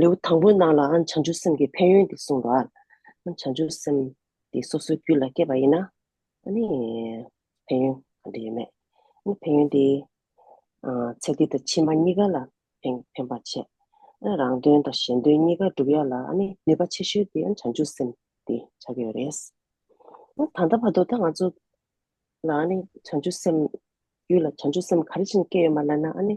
ལེའུ་དང་པོའི་ནང་ལའང་བྱང་ཆུབ་སེམས་ཀྱི་ཕན་ཡོན་འདི་གསུངས་ལ། བྱང་ཆུབ་སེམས་འདི་སོ་སོའི་རྒྱུད་ལ་སྐྱེས་པ་ཡིན་ན་ནི། ཕན་ཡོན་གང་འདྲ་ཡོད་མེད། ཕན་ཡོན་འདི། ཚེ་འདི་དང་ཕྱི་མ་གཉིས་ཀ་ལ་ཕན་པར་བྱེད། རང་དོན་དང་གཞན་དོན་གཉིས་ཀ་སྒྲུབ་ཡ་ལ་ནུས་པ་ཆེ་ཤོས་དེ་བྱང་ཆུབ་སེམས་འདི་ཆགས་ཀྱི་ཡོད་རེད། ད་ལྟ་བར་དུ་ད་ང་ཚོ་ལ་ནི་བྱང་ཆུབ་སེམས་རྒྱུད་ལ་བྱང་ཆུབ་སེམས་ག་རེ་བཞིན་སྐྱེས་ཡོད་མ་ལབ་ན་ནི།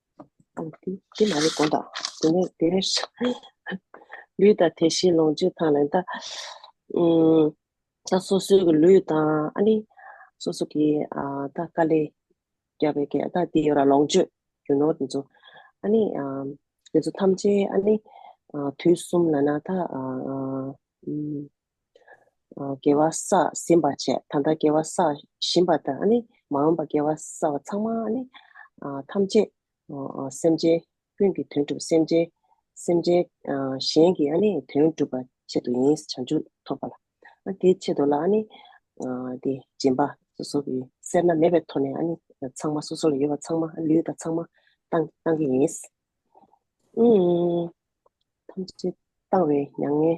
དེ་མ་རེད་གོང་དང། དེ་ནས་དེ་ནས་ལུས་དང་དེ་བཞིན་ལོངས་སྤྱོད་དང་ལེན་ལྟ། སོ་སོའི་གི་ལུས་དང་ཨ་ནི། སོ་སོ་གི་ད་ཀ་ལས་རྒྱ་བའི་གས་ད་དེ་ཡོད་ར་ལོངས་སྤྱོད་རྒྱུ་ནོར་དེ་ཚོ། ཨ་ནི། དེ་ཚོ་ཐམས་ཅད་ཨ་ནི། དུས་གསུམ་ལ་ན་ད། དགེ་བ་བསགས་ཟིན་པར་བྱས་ད་ལྟ་དགེ་བ་བསགས་བཞིན་པ་དང་ནི་མ་འོངས་པར་དགེ་བ་བསགས་པ་ཚང་མ་ནི་ཐམས་ཅད་སེམས་ཅན་ཀུན་གྱི་དོན་སྒྲུབ་སེམས་ཅན་སེམས་ཅན་གཞན་གྱི་ནི་དོན་སྒྲུབ་པ་ཆེད་དུ་ཡིན་བྱང་ཆུབ་ཐོབ་པ་ལ་དེའི་ཆེད་དུ་ལ་ནི་དེ་སྦྱིན་པ་སོ་སོ་གི་སེར་སྣ་མེད་པའི་ཐོག་ནས་ནི་ཚང་མ་སོ་སོ་ལ་ཡོད་པ་ཚང་མ་ལུས་དང་ཚང་མ་བཏང་བཏང་གི་ཡིན། ཐམས་ཅད་བཏང་བའི་མྱ་ངན་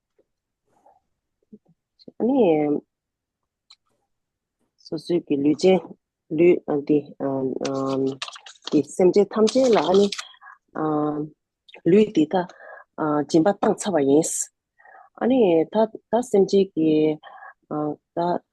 ནི་སོ་སོའི་གི་ལུས་ཅན་ལུས་འདི་དེ་སེམས་ཅན་ཐམས་ཅད་ལ་ནི་ལུས་འདི་དག་སྦྱིན་པ་བཏང་ཚར་བ་ཡིན། ཨ་ནི་ད་སེམས་ཅན་གྱི་ད་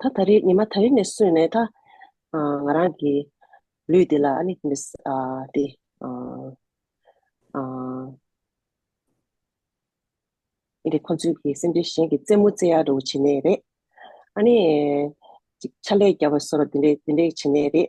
ད་ད་རེས་ཉི་མ་ད་རེ་ནས་སུན་ནས་ད། ང་རང་གི་ལུས་འདི་ལ་ཨ་ནི་མི་ས་ཨ་དེ་ཨ་ཨ། ཨི་དེ་ཁོ་ཚོའི་གི་སེམས་ཅན་གཞན་གི་རྩེད་མོ་རྩེ་ཡག་རེ་བོ་བྱེད་ནས་རེད། ཨ་ནི། ཅིག་ཕྱག་ལས་རྒྱབ་པ་སོ་ར་དེ་འདྲས་དེ་འདྲས་བྱེད་ནས་རེད།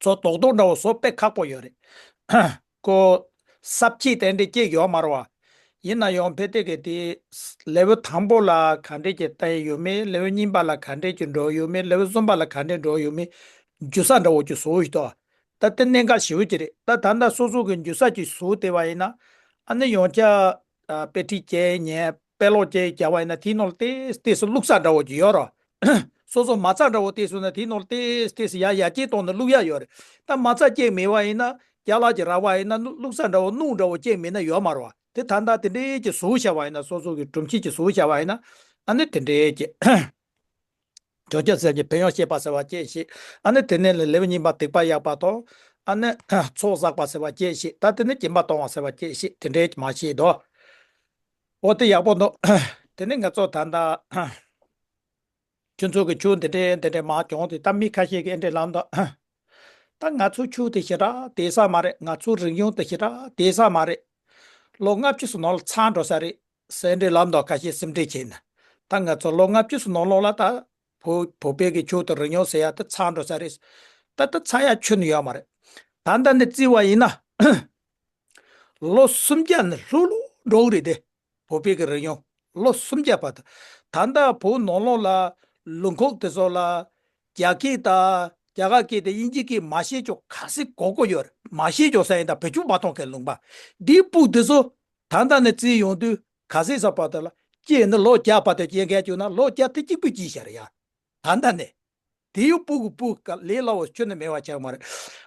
ཚོ་རྡོག་རྡོག་འདྲ་བོ་བཟོ་དཔེ་ཁག་པོ་ཡོད་རེད། ཀོ། གསབ་ཁྱི་དེ་འདྲའི་སྐྱེས་ཡོད་མ་རུང་བ། ཡིན་ན་ཡང་བྷེ་ཏེ་གེ་དེའི། Level། དང་པོ་ལ་ག་འདྲས་ཀྱི་ལྟ་ཡི་ཡོད་མེད Level། གཉིས་པ་ལ་ག་འདྲས་ཀྱི་འགྲོ་ཡི་ཡོད་མེད Level། གསུམ་པ་ལ་ག་འདྲས་འགྲོ་ཡི་ཡོད་མེད། འཇུ་ས་འདྲ་བོ་ཀྱི་བཟོ་ཡི་ཏོ། ད་དེ་གནད་འགག་ཞེ་བོ་ཅིག་རེད་ད་ད་ལྟ་སོ་སོ་གི་འཇུ་ས་ཀྱི་བཟོ་དེ་བ་ཡིན་ན། ཨ་ནི་ཡང་བསྐྱར། དཔེ་ཁྲིད་ཀྱི་ཉེས་དཔེ་ཀློག་ཀྱི་རྒྱལ་བ་ཡིན་ན་དེའི་ནོར་ལྟེས་ལྟེས་སུ་བླུགས་ཚག་འདྲ་བོ་ཅིག་ཡོད་རོ། སོ་སོ་མ་ཚག་འདྲ་བོ་ལྟེས་སོང་ན་དེའི་ནོར་ལྟེས་ལྟེས་སུ་ཡ་ཡ་སྐྱེས་སྟོང་ན་བླུགས་ཡ་ཡོད་རེད་ད་མ་ཚག་སྐྱེས་མེད་བ་ཡིན་ན་རྒྱ་ལག་གི་ར་བ་ཡིན་ན་བླུགས་ཚག་འདྲ་བོ་སྣུག་འདྲ་བོ་སྐྱེས་མེད་ན་ཡོད་མ་རོ་དེ་ད་ལྟ་དེ་འདྲའི་ཀྱི་བཟོ་བྱ་བ་ཡིན་ན་སོ་སོ་གི་སྒྲུབ་བྱེད་ཀྱི་བཟོ་བྱ་བ་ཡིན་ན་ཨ་ནི་དེ་འདྲའི་ཀྱི། བརྗོད་བྱ་ཟེར་གྱི་བོན་ཡང་བཤད་པ་ཟེར་བ་སྐྱེས་ཤིག། ཨ་ནི་དེ་ནས་ལས་ལེའུ་གཉིས་པ་ཐེག་པ་གཡག་པ་དང། ཨ་ནི། ཚོགས་བསགས་པ་ཟེར་བ་སྐྱེས་ཤིག་ད་དེ་ནས་སྐྱེ་མ་གཏོང་བ་ཟེར་བ་སྐྱེས་ཤིག་དེ་འདྲའི་མ་བྱེད་དོ། འོ་དེ་ཡག་པོ་འདུག། དེ་ནས་ངས་ཚོགས་དར་མདའ། ཁྱོད་ཚོ་གི་ཆུ་འདི་འདྲའི་འདི་འདྲའི་མ་གྱོང་དེ་ད་མི་ཁ་ཤས་ཀྱི་ཨེ་འདྲའི་ལམ་དུ། ད་ང་ཚོའི་ཆུ་དེ་ཞེ་དྲག་དེ་ས་མ་རེད་ང་ཚོའི་རིག་གཞུང་དེ་ཞེ་དྲག་དེ་ས་མ་རེད། ལོ་ལྔ་བཅུ་སོ་ནང་ལ་ཚར་འགྲོ་ས་རེད། གསལ་འགྲེལ་ལམ་དང་ཁ་ཤས་སེམས་ཁྲལ་བྱས་ན། ད་ང་ཚོ་ལོ་ལྔ་བཅུ་སོ་ནོ་ལོག་ལ་ད། བོད་པའི་གི་ཆོས་དང་རི་ཉོག་ཟེར་ཡ་དེ་ཚང་འགྲོ་ས་རེད། ད་ད་ཚང་ཡ་ཆོས་ནི་ཡོད་མ་རེད། ད་ལྟ་ནས་བརྩི་བ་ཡིན་ན། ལོ་སུམ་བརྒྱ་ནི་ལྷུག་ལྷུག་འགྲོག་རེད་དེ། བོད་པའི་གི་རི་ཉོག་ལོ་སུམ་བརྒྱ་བ་ད། ད་ལྟ་བོད་ནོ་ལོག་ལ་ལུང་ཁོག་དེ་སོགས་ལ། རྒྱ་སྐད་ད། རྒྱ་གར་སྐད་དེ་དབྱིན་ཇི་སྐད་མ་ཤེས་ཅོག་ག་སེ་གོ་གོ་ཡོད་རེད་མ་ཤེས་ཅོག་ས་ཡིན་ད་བོད་ཆུ་བ་ཐོང་ཁའི་ལུང་པ། འདིའི་སྤུག་དེ་སོ་ད་ལྟ་ནས་བརྩིས་ཡོང་དུས་ག་ཟེ་ས་པ་ཏི་ལ་སྐྱེས་ནི་ལོ་བརྒྱ་པ་ཏི་སྐྱེས་མཁན་བྱུང་ན་ལོ་བརྒྱ་ཐི་གཅིག་པུས་ཅི་བྱ་རེ་ཡ། ད་ལྟ་ནས། དེ་ཡོད་པུ་གུ་པུ་ག་ལེ་ལ་བོ་ཁྱོད་ནི་མེ་བ་ཆགས་མ་རེད།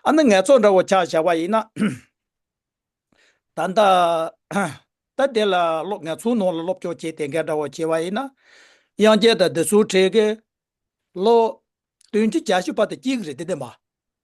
ཨ་ནི་ངལ་ཚོགས་འདྲ་བོ་ཆགས་བྱ་བ་ཡིན་ན། ད་ལྟ། ད་དེ་ལ་སློབ་ངལ་ཚོའི་ནང་ལ་སློབ་སྐྱོར་བྱེད་དེ་འགལ་འདྲ་བོ་བྱེད་བ་ཡིན་ན། དབྱངས་རྒྱལ་དང་བདུད་ཚུལ་ཁྲི་གི། ལོ། དོན་གྱི་བྱ་ཤུ་པ་ཏི་གཅིག་རེད་དེ་དེ་མ།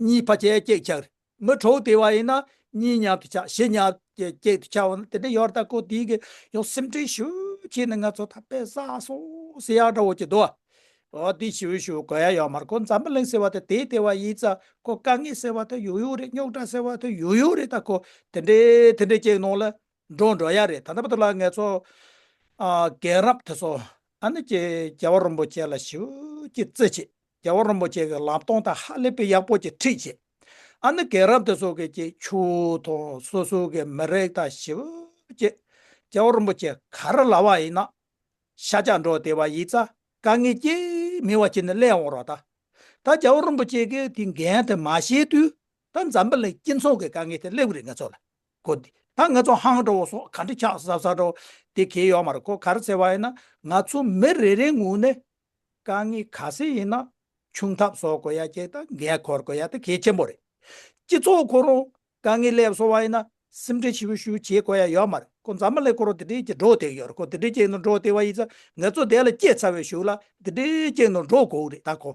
གཉིས་ཕ་ཅལ་སྐྱེགས་ཆགས་རི་མོ་གྲོགས་དེ་བ་ཡིན་ན་གཉིས་མཉམ་དུ་ཆགས་བཞི་མཉམ་དུ་སྐྱེགས་དུ་ཆགས་བ་ན་དེ་འདྲ་ཡོད་ད་ཁོ་དེའི་ཡང་སེམས་ཁྲལ་ཞུ་ཁྱེད་ནི་ང་ཚོ་ད་པེ་ས་སོ་སི་ཡག་འདྲ་བོ་ཅིག་འདུག་ཨ་འོ་དེ་ཞུ་ཞུ་གོ་ཡ་ཡོད་མར་ཁོ་འཛམ་བུ་གླིང་ཟེར་བ་དེ་དེའི་དེ་བ་ཡིན་ཙང་ཁོ་དཀའ་ངལ་ཟེར་བ་དེ་ཡོད་ཡོད་རེད་རྙོག་དྲ་ཟེར་བ་དེ་ཡོད་ཡོད་རེད་ད་ཁོ་དེ་འདྲའི་དེ་འདྲའི་སྐྱེགས་ནང་ལ་འགྲོ་འགྲོ་ཡ་རེད་ད་ད་པ་དུ་ལ་ངེད་ཚོ་རྒན་རབས་དེ་ཚོ་ཨ་ནི་རྒྱལ་བ་རིན་པོ་ཆེ་ལ་ཞུ་ཁྱེད་བརྩེ་ཆེ། རྒྱལ་བ་རིན་པོ་ཆེ་གི་ལམ་སྟོང་དང་ཧ་ལས་པའི་ཡག་པོ་ཅིག་ཁྲིད་བྱེད། ཨ་ནི་རྒན་རབས་དེ་ཚོ་གི་ཀྱི་ཆུ་དང་སོ་སོ་གི་མི་རེག་དང་ཞི་བ་བྱེད། རྒྱལ་བ་རིན་པོ་ཆེ་ག་རེ་ལ་བ་ཡིན་ན། ཤ་ལྕག་འགྲོ་དེ་བ་ཡིས་རྩ་དཀའ་ངལ་ཅི་མི་བ་བྱེད་ནི་ལས་འོང་རོགས་ད། ད་རྒྱལ་བ་རིན་པོ་ཆེ་གི་དེ་འགན་དེ་མ་བྱེད་དུས་ད་འཛམ་བུ་ལའི་སྐྱིད་མཚོ་གི་དཀའ་ངལ་དེ་སླེབ་གི་རེད་ང་ཚོ་ལ་གོ་དེ་ད་ང་ཚོ་ཧང་འགྲོ་བ་སོགས་ག་འདྲི་ཆགས་ཟབ་ཟབ་འགྲོ་བ་དེ་གལ་ཡོག་མ་རེད་གོ་ག་རེ་ཟེར་བ་ཡིན་ན་ང་ཚོ་མི་རེ་རེའི་ངོས་ནས་དཀའ་ངལ་ག་ཟེ་ཡིན་ན་ཆུང་ཐབས་བཟོ་དགོས་ཡ་ཁྱེད་དང་འགལ་འཁོར་དགོས་ཡ་ད་གེ་ཆེན་པོ་རེད། སྤྱི་ཚོགས་ཁོ་རང་དཀའ་ངལ་སླེབས་སོང་བ་ཡིན་ན་སེམས་ཁྲལ་ཞི་བོ་ཞུ་བྱེད་དགོས་ཡ་ཡོད་མ་རེད་ཁོ་མཛའ་མ་ལེ་ཁོ་རང་འདི་འདྲའི་ཀྱི་འགྲོ་སྡེག་ཡོད་རེད་ཁོ་འདི་འདྲའི་ཀྱི་ནང་འགྲོ་སྡེ་བ་ཡིན་ཚ་ངེད་ཚོ་འདས་ལ་སྐྱེས་ཚར་བའི་ཞུགས་ལ་འདི་འདྲའི་ཀྱི་ནང་འགྲོ་དགོས་རེད་ད་ཁོ་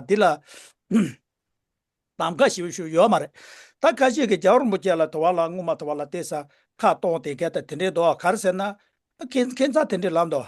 འདི་ལ་གདམ་ག་ཞི་བོ་ཞུ་ཡོད་མ་རེད་ད་ཁ་ཤས་ཀྱི་རྒྱ་རོང་པོ་ཁྱེད་ལ་དོ་བ་ལ་སྔུན་མ་དོ་བ་ལ་བལྟས་ས་ཁ་སྟོང་དེ་ག་ད་དེ་འདྲའི་འདོ་བ་ག་རེ་ཟེར་ན་ཁེ་ཁེ་མཚར་དེ་འདྲའི་ལམ་འདོ་བ།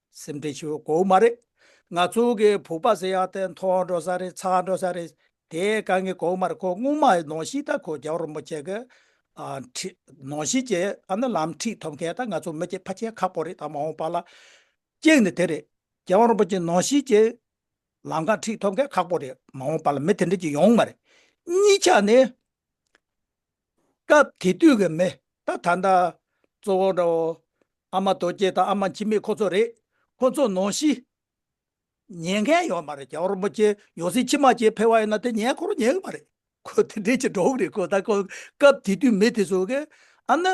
སེམས་ཁྲལ་ཆེ་བའི་མགོ་བོ་མ་རེད། ང་ཚོ་གི་བུག་པ་ཟེར་ཡག་དེ་མཐོ་འགྲོ་ས་རེད་ཚ་འགྲོ་ས་རེད། དེ་ག་ངའི་མགོ་བོ་མ་རེད་ཁོ་སྔོན་མ་ནོར་ཤིག་ད་ཁོ་རྒྱ་བོ་རིན་པོ་ཆེ་གི་ནོར་ཤིག་ཅེས་ཨ་ན་ལམ་ཁྲིད་ཐོབ་མཁན་ད་ང་ཚོ་མི་སྐྱེས་ཕ་ཁྱེད་ཁ་པོ་རེད་ད་མ་འོངས་པ་ལ་ཀྱེག་ནི་དེ་རེད་རྒྱ་བོ་རིན་པོ་ཆེ་ནོར་ཤིག་ཅེས་ལམ་ཁ་ཁྲིད་ཐོབ་མཁན་ཁག་པོ་རེད་མ་འོངས་པ་ལ་མི་དེ་འདྲ་ཅིག་ཡོང་གི་མ་རེད། གཉིས་ཆ་ནི། སྐབས་དེ་དུས་ཀྱི་མི་ད་ད་འདྲ། གཙོ་བོ་འདྲ་བོ། ཨ་མ་རྡོ་རྗེ་དང་ཨ་མ་འཆི་མེད་ཁོ་ཚོ་རེད། ཁོ་ཚོ་ནོར་ཤི། ཉན་མཁན་ཡོད་མ་རེད་རྒྱ་རོག་པོ་ཆེ་ཡོང་སྲིད་ཕྱི་མ་ཆེ་འཕེལ་བ་ཡོད་ན་དེ་ཉན་ཁོ་རུ་ཉན་གི་མ་རེད། ཁོ་དེ་འདྲའི་ཆེ་འགྲོ་གི་རེད་ཁོ་ད་ཁོ་སྐབས་དེ་དུས་མི་དེ་ཚོ་གི་ཨ་ནི།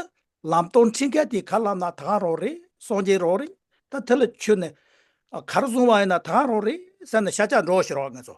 ལམ་སྟོང་འཁྲིད་མཁན་དེ་གར་ལངས་ན་ད་གང་རོག་རེད་སོང་རྗེས་རོག་རེད་ད་དེ་ལ་ཆོས་ནི། གར་བཟུང་བ་ཡིན་ན་ད་གང་རོག་རེད་ཟེར་ན་ཤ་ཆག་འགྲོ་ཤི་རོག་ངེད་ཚོ།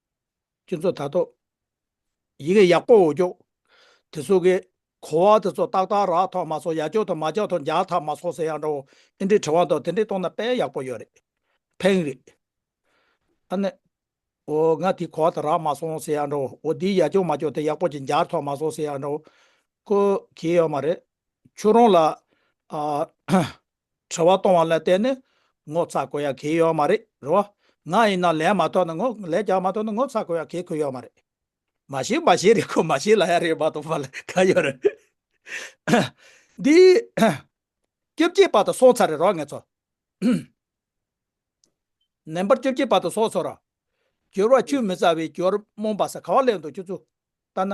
ཀྱི་མཚོ་དག་ཏུ། ཡི་གེ་ཡག་པོ་འོ་ཅོག། དེ་སོག་གི། གོ་བ་དེ་ཚོ་ཏག་ཏག་རག་ཐོག་མ་སོག་ཡ་ཅོག་ཐོག་མ་ཅག་ཐོག་འཇག་ཐག་མ་སོག་ཟེར་ཡག་འདྲ་བོ་ཨེ་འདྲི་དྲི་བ་འདུག་དེ་འདྲི་གཏོང་ན་དཔེ་ཡག་པོ་ཡོད་རེད་ཕེང་རེད་ཨ་ནི། འོ་ང་དེ་གོ་བ་དེ་རག་མ་སོང་ཟེར་ཡག་འདྲ་བོ་འོ་དེའི་ཡ་ཅོག་མ་ཅོག་དེ་ཡག་པོ་ཅིག་འཇག་ཐོག་མ་སོག་ཟེར་ཡག་འདྲ་བོ་ཀོ་གི་ཡོད་མ་རེད་ཁྱོད་རང་ལ་ཨ། དྲི་བ་གཏོང་བ་ལ་བརྟེན་ནས་ངོ་ཚ་དགོས་ཡ་གི་ཡོད་མ་རེད་རོ། ང་ཡིན་ན་ལན་མ་ཐོག་ན་ངོ་ལན་རྒྱག་མ་ཐོག་ན་ངོ་ཚ་དགོས་ཡ་གི་གི་ཡོད་མ་རེད། མ་ཤེས་མ་ཤེས་རེད་ཁོ་མ་ཤེས་ལ་ཡ་རེད་མ་གཏོགས་པ་ལ་ག་ཡོད་རེད། འདི་སྐྱོབ་སྐྱེས་པ་དང་སོང་ཚར་རེད་རོ་ངེད་ཚོ། ནན་པར་སྐྱོབ་སྐྱེས་པ་དང་སོང་ཚོ་ར། སྦྱོར་བ་བཅུ་མི་རྩ་བའི་སྦྱོར་རྨོངས་པ་ས་ག་བ་ལས་འདུག་ཁྱོད་ཚོ་ལྟ་ན།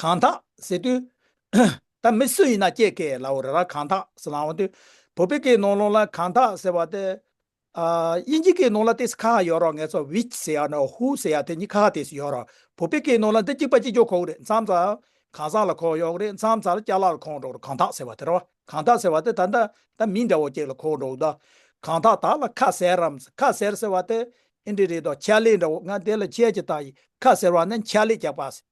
གང་དག་ཟེར་དུས། ད་མི་སུ་ཡིན་ན་སྐྱེས་ཀྱི་ལའོ་ར་ར་གང་དག་ཟེར་ལའང་དུས། བོད་པའི་གི་ནོར་ལོང་ལ་གང་དག་ཟེར་བ་དེ། དབྱིན་ཇིའི་གི་ནོར་ལ་དེ་སི་ཁ་ཡོད་རོགས་ངེད་ཚོ which ཟེར་ཡ་ནོ who ཟེར་ཡ་དེ་གཉིས་ཁ་ཁ་དེ་སི་ཡོད་རོགས་བོད་པའི་གི་ནོར་ལ་འདི་གཅིག་པ་གཅིག་གྱོ་ཁོག་རེད་མཚམས་ཚ། གང་ཟག་ལ་ཁོག་ཡོག་རེད་མཚམས་ཚ་སྐྱ་ལ་ལ་ཁོག་འགྲོག་རོགས་གང་དག་ཟེར་བ་དེ་རོགས་གང་དག་ཟེར་བ་དེ་ད་ད་ད་མི་འདྲ་བོ་གཅིག་ལ་ཁོག་འགྲོག་ད། གང་དག་དག་ལ་ཁ་ཟེར་རམ་ཟེར་ཁ་ཟེར་ཟེར་བ་དེ། ཨིན་འདྲི་རེད་དོ་ཁྱད་ལས་འདྲ་བོ་ང་དེ་ལ་ཁྱད་ཀྱི་ད་ཡིན་ཁ་ཟེར་བ་ནི་འཁྱག་ལས་རྒྱག་པ་ཟེར།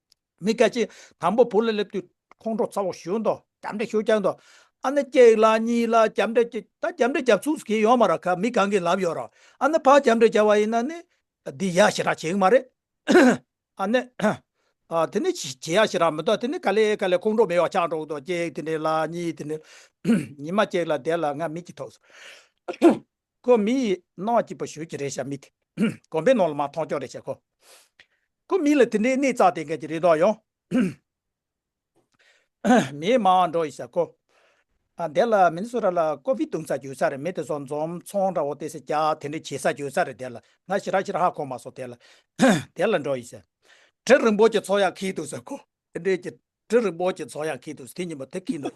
མི་སྐད་ཅིག། དང་པོ་བུ་ལ་སླེབས་དུས་ཁོང་ཁྲོ་ཚ་བོ་ཞུ་འདོག་རྒྱབ་འདྲེ་ཞུ་རྒྱག་འདོག་ཨ་ནི་སྐྱེས་ལ་གཉིས་ལ་རྒྱབ་འདྲེ་སྐྱེས་ད་རྒྱབ་འདྲེ་རྒྱབ་ཚུགས་གིས་ཡོང་མ་ར་ཁ་མི་གང་གིས་ལབ་ཡོད་རོགས་ཨ་ནི་ཕ་རྒྱབ་འདྲེ་རྒྱབ་བ་ཡིན་ན་ནི་འདི་ཡ་ཞེ་དྲག་བྱེད་གི་མ་རེད་ཨ་ནི། དེ་ནི་བྱེད་ཡ་ཞེ་དྲག་མི་འདོག་དེ་ནི་ག་ལེ་ག་ལེ་ཁོང་ཁྲོ་མེད་བ་ཆགས་འགྲོ་གི་འདོག་སྐྱེས་དེ་འདྲེ་ལ་གཉིས་དེ་འདྲེ་ལ་ཉི་མ་སྐྱེས་ལ་བསྡད་ལ་ང་མིག་གིས་ཐོགས་སོང། ཀོ་མི་ཡིས་སྣང་བ་སྐྱིད་པོ་ཞུ་གི་རེད་ཤ་མི་དེ་གོམ་པའི་ནང་ལ་མ་མཐོང་ཀྱང་རེད་ཤ་ཁོ། ཀོ་མི་ལ་དེ་འདྲའི་གནས་བཙག་དེ་འགན་གྱི་རེ་དོགས་ཡོང། མིའི་མ་འང་འགྲོ་ཡི་ཤ་ཁོ། ཨ་དེ་ལ་མིན་སུ་ར་ལ་ཀོ་བི་བཏུང་ས་གྱོད་ས་རེད་མི་དེ་སོགས་འཛོམས་ཚོང་འདྲ་བོ་དེ་སེ་རྒྱག་དེ་འདྲ་བྱེད་ས་གྱོད་ས་རེད་དེ་ལ་ང་ཤི་ར་ཤི་ར་ཧ་གོ་མ་སོང་དེ་ལ་དེ་ལ་འགྲོ་ཡི་ཤ། གྲི་རིང་པོ་གྱི་ཚོགས་ཡག་ཁིག་འདུག་ཤ་ཁོ། དེ་འདྲའི་གྱི་གྲི་རིང་པོ་གྱི་ཚོགས་ཡག་ཁིག་འདུག་ཤ་དེ་གཉིས་པོ་དེ་གིས་འདུག།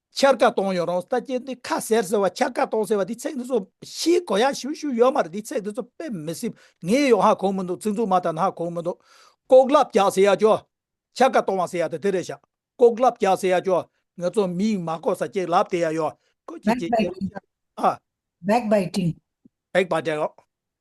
འཆར་ཀ་གཏོང་ཡོང་རོང་ཟེར་ད་ཀྱེ་འདི་ཁ་ཟེར་ཟེར་བ་འཆར་ཀ་གཏོང་ཟེར་བ་འདི་ཚེག་འདི་ཚོ་ཕྱིའི་གོ་ཡག་ཞུ་ཞུ་ཡོད་མ་རེད་འདི་ཚེག་འདི་ཚོ་དཔེ་མི་སྲིད་ངས་ཡོང་ཧ་གོ་མི་འདུག་ཚིག་འཛུགས་མ་ད་ན་ཧ་གོ་མི་འདུག་ལྐོག་ལབ་རྒྱག་ཟེར་ཡ་ཀྱོ། འཆར་ཀ་གཏོང་བ་ཟེར་ཡ་ད་དེ་རེད་ཤག་ལྐོག་ལབ་རྒྱག་ཟེར་ཡ་ཀྱོ་ངས་ཚོ་མི་ཡིག་མ་གོ་ས་ཀྱེ་ལབ་དེ་ཡ་ཡོ་ཀོ་ཀྱེ་ཀྱེ་ཀྱེ་ཨ། Backbiting། Backbiting།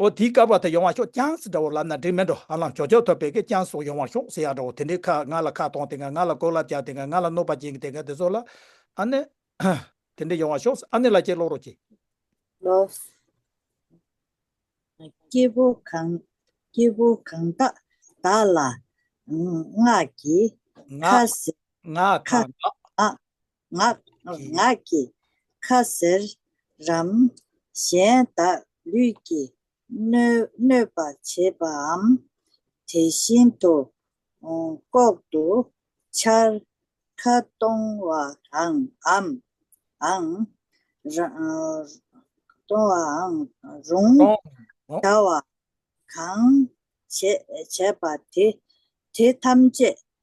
ཨོ་དེའི་སྐལ་བ་དེ་ཡོང་བར་ཤོག་ཅང་སི་འདྲ་བོ་ལབ་ན་འགྲིག་མེད་འགྲོ་ཨ་ལང་ཇོ་ཇོ་ཐོབ་པའི་སྐད་ཅང་སོགས་ཡོང་བར་ཤོག་ཟེར་ཡག་འདྲ་བོ་དེ་འདྲའི་ཁ་ང་ལ་ཁ་གཏོང་དེ་ང་ང་ལ་ལྐོག་ལབ་རྒྱག་དེ་ང་ང་ལ་གནོད་པ་སྦྱིན་གི་དེ་ང་དེ་ཚོ་ལ་ཨ་ནེ་དེ་འདྲའི་ཡོང་བར་ཤོག་ཨ་ནེ་ལ་ཁྱེད་ཀློག་རོགས་གྱིས། ལོགས། སྐྱེས་བུ་གང། སྐྱེས་བུ་གང་དག་དག་ལ། ངག་གིས། ཁ། ངག་གང་དག། ངག་གི། ཁ་ཟེར་རམ། གཞན་དག་ལུས་ཀྱི། གནོད་པར་བྱེད་པའམ། དེ་བཞིན་དུ། ལྐོག་ཏུ། འཆར་ཁ་གཏོང་བ་འམ། གཏོང་བའང་རུང། བྱ་བ་གང། བྱས་པ་དེ། དེ་ཐམས་ཅད་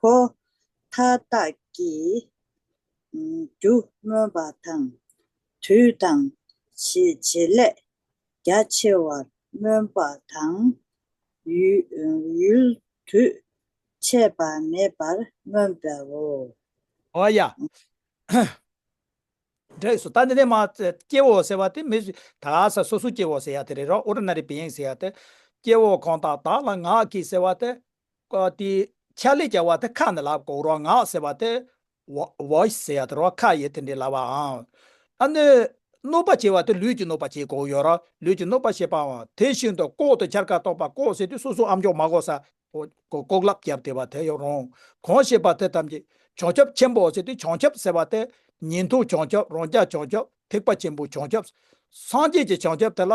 ཕོ། མཐའ་དག་གི། རྒྱུ་སྨོན་པ་དང། དུས་དང། ཞེས་བྱེད་ལས། རྒྱ་ཆེ་བར་སྨོན་པ་དང། ཡུལ། དུས། ཆད་པ་མེད་པར་སྨོན་པའོ། བ་ཡ། འབྲས་སུ་ད་ནི་ནས་མ། སྐྱེའོ་ཟེར་བ་དེ་མི། དག་ས་སོ་སོ་སྐྱེའོ་ཟེར་ཡ་དེ་རེ་རོ་ཨོ་ར་ན་རེ་བི་ཡེངས་ཟེར་ཡ་དེ། སྐྱེའོ་གང་དག་དག་ལ་ངག་གིས་ཟེར་བ་དེ། དེའི་ཕྱག་ལས་ཀྱི་བར་དུ་ཁ་ནི་ལག་གོ་རོ་ངག་ཟེར་བ་དེ། Voice། ཟེར་ཡོད་རོ་ཁ་ཡི་དེ་འདྲའི་ལ་བའང། ཨ་ནི། གནོད་པ་བྱེད་བ་དེ་ལུས་ཀྱི་གནོད་པ་བྱེད་གོ་ཡོད་རོ་ལུས་ཀྱི་གནོད་པ་བྱེད་པའང་དེ་བཞིན་དུ་ལྐོག་ཏུ་འཆར་ཀ་གཏོགས་པ་ལྐོག་ཟེར་དུས་སོ་སོའི་ཨམ་ཅོག་མ་གོ་ས། ལྐོག་ལབ་རྒྱབ་དེ་བ་དེ་ཡང་རུང། གང་ཞེས་པ་དེ་ཐམས་ཅད་བྱང་ཆུབ་ཆེན་པོའོ་ཟེར་དུས་བྱང་ཆུབ་ཟེར་བ་དེ། ཉིན་ཐོ་བྱང་ཆུབ་རང་རྒྱལ་བྱང་ཆུབ་ཐེག་པ་ཆེན་པོའི་བྱང་ཆུབ། སངས་རྒྱས་ཀྱི་བྱང་ཆུབ་དེ་ལ་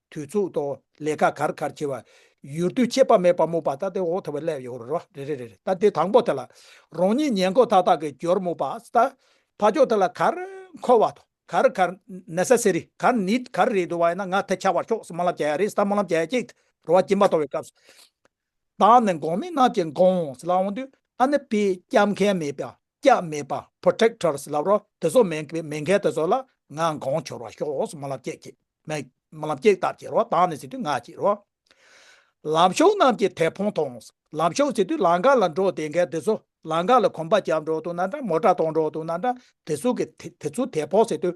དུས་ཚུགས་ཐོག་ལས་ཀ་གར་གར་བྱེད་པ། ཡུལ་དུས་ཆད་པ་མེད་པར་སྨུག་པ་ལྟ་སྟེ་འོག་ཐོག་བས་སླེབས་ཡོང་རེ་རེ་རེ་རེ་ལྟ་དེ་དང་པོ་དེ་ལ་རང་ཉིད་ཉལ་འཁོར་ཐག་ཐག་གི་རྒྱུར་སྨུག་པ་ལྟ། ཕ་ཕྱོགས་དེ་ལ་གར་འཁོར་བ་དང་གར་གར Necessary གར Need གར་རེད་འདུག་བ་ཡིན་ན་ང་དེ་ཆགས་པར་ཤོག་སྨོན་ལམ་བྱ་ཡ་རེད་ད་སྨོན་ལམ་བྱ་ཡ་གཅིག་རེད་རོ་བ་སྦྱིན་པ་གཏོང་བའི་སྐབས་སུ་བདག་ནི་འགོང་མི་རྣམས་ཀྱི་འགོང་བོ་ཟེར་ལ་འོང་དུས་ཨ་ནི་པི་སྐྱབས་མཁན་མེད་པ་སྐྱབས་མེད་པ Protector ཟེར་ལབ་རོགས་དེ་ཚོ་མེད་མེད་མཁན་དེ་ཚོ་ལ་ང་འགོང་འཁྱོར་བ་ཤོག་ཨོ་སི་མོ་ལབ་སྐྱེས་སྐྱེས་མེད་མ་ལབ་སྐྱེས་སྟབས་ཀྱིས་རོགས་བདག་ནི་ཟེར་དུས་ང་ཀྱིས་རོགས། ལམ་ཕྱོགས་རྣམས་ཀྱི་དེད་ཕོང་ཐོང་ལམ་ཕྱོགས་ཟེར་དུས་ལང་ཀ་ལ་འགྲོ་བསྡད་མཁན་དེ་ཚོ་ལང་ཀ་ལ་གོམ་པ་རྒྱབ་འགྲོ་དུ་ན་འདྲ་མོ་སྒྲ་གཏོང་འགྲོ་དུ་ན་འདྲ་དེ་ཚོ་གི་དེ་ཚོ་དེད་ཕོག་ཟེར་དུས་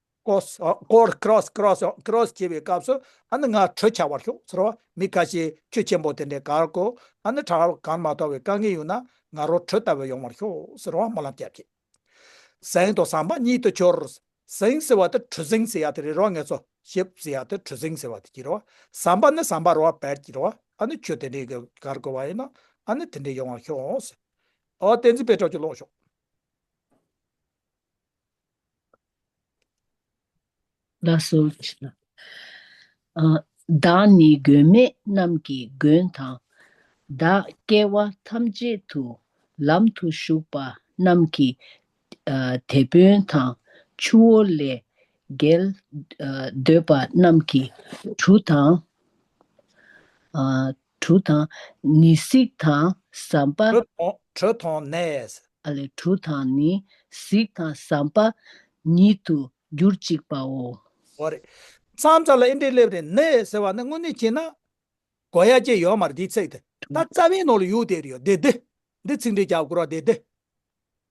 སྐོར Cross Cross Cross བྱེད་པའི་སྐབས་སུ་ཨ་ནི་ང་དྲོད་ཆགས་པར་ཤོག་ཟེར་བ་མི་ག་ཤེད་ཁྱོད་ཆེན་པོ་དེ་འདྲའི་གར་གོ་ཨ་ནི་གྲགས་གང་མ་ཐོག་བའི་དཀའ་ངལ་ཡོད་ན་ང་རོ་དྲོད་ལྟ་བུ་ཡོང་བར་ཤོག་ཟེར་བ་སྨོན་ལམ་སྐྱབས་ཀྱིས། གཟེངས་དང་ཟངས་མ་གཉིས་དུ་ཁྱོར། གཟེངས་ཟེར་བ་དེ་དྲོད་གཟེངས་ཟེར་ཡ་དེ་རེད་རོ་ངས་ཚོ་ཞེས་ཟེར་ཡ་དེ་དྲོད་གཟེངས་ཟེར་བ་དེ་གྱིས་རོ་ཟངས་པ་ནི་ཟངས་པ་རོ་བ་བལ་གྱིས་རོ་བ་ཨ་ནི་ཁྱོད་དེ་འདྲའི་གར་གོ་བ་ཡིན་ན་ཨ་ནི་དེ་འདྲའི་ཡོང་བར་ཤོག་ཟེར་བ་བསྟན་འཛིན་པའི་གྲོགས་ཀྱིས་ཀློག་ཤོག། བདག་སོགས་ཀྱི་ལ། བདག་ནི་མགོན་མེད་རྣམས་ཀྱི་མགོན་དང། བདག་སྐྱེ་བ་ཐམས་ཅད་དུ་ལམ་དུ་ཞུགས་པ་རྣམས་ཀྱི་དེད་དཔོན་དང། ཆུ་བོ་ལས་བརྒལ་འདོད་པ་རྣམས་ཀྱི་གྲུ་དང། གྲུ་དང་ནི་གཟིག་དང་ཟམ་པ། གྲུ་དང་ནས། ཨ་ལས་གྲུ་དང་ནི་གཟིག་དང་ཟམ་པ་ཉིད་དུ་འགྱུར་ཅིག་པའོ། འོ་རེད། མཚམས་རྩ་ལ་ཨི་འབྲས་སླེབས་རེད་ནས་ཟེར་བ་ནི་དངོས་གནས་བྱས་ན། གོ་ཡ་སྐྱེ་ཡོད་མར་དེའི་ཚིག་དེ། ད་རྩ་བའི་ནང་ལ་ཡུག་དེ་རེད་ཡོད་དེ་དེ། འདི་ཚིག་འབྲས་རྒྱབ་སྐོར་བ་དེ་དེ།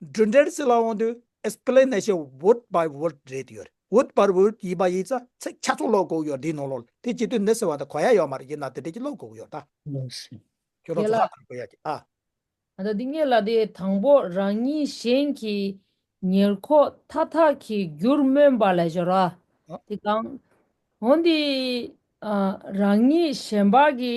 འབྲུ་འགྲེལ་བྱེད་ལ་དབང་དུས Explanation Word by Word རེད་ཡོད་རེད Word by Word ཡིན་པ་ཡིན་ཚ་ཚིག་ཆ་ཚུགས་ཀློག་དགོས་ཡོད་འདི་ནོར་ལོ་ལ་དེ་གྱི་དུས་འདི་ཟེར་བ་དེ་གོ་ཡ་ཡོད་མ་རེད་ཡིན་ན་དེ་འབྲེལ་གྱི་ཀློག་དགོས་ཡོད་ད། ཁྱོད་རང་ཚོ་ཧ་གོ་ཡ་གི་ཨ། ད་ལྟ་འདི་ངེད་ལ་དེ་དང་པོ་རང་ཉིད་གཞན་གྱི་ཉེར་ཁོག་མཐའ་དག་གི་རྒྱུར་སྨོན་པ་ལས་སྦྱོར་བ་དེ་གང། འོན་ཏེ་རང་ཉིད་གཞན་པ་གི་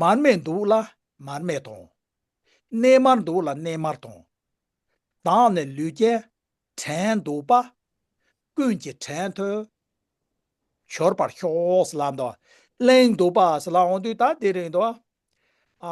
མར་མེ་འདུག་ལ་མར་མེ་དང། གནས་མར་འདུག་ལ་གནས་མར་དང། བདག་ནི་ལུས་རྐྱེན་བྲན་འདུག་པ། ཀུན་གྱི་བྲན་ཐོས་འཆོར་བར་ཤོག། སྲི་ལ་འདུག་ལ་གླེང་འདུག་པ། སྲི་ལ་འོང་དུས་ད་དེ་རིང་འདུག།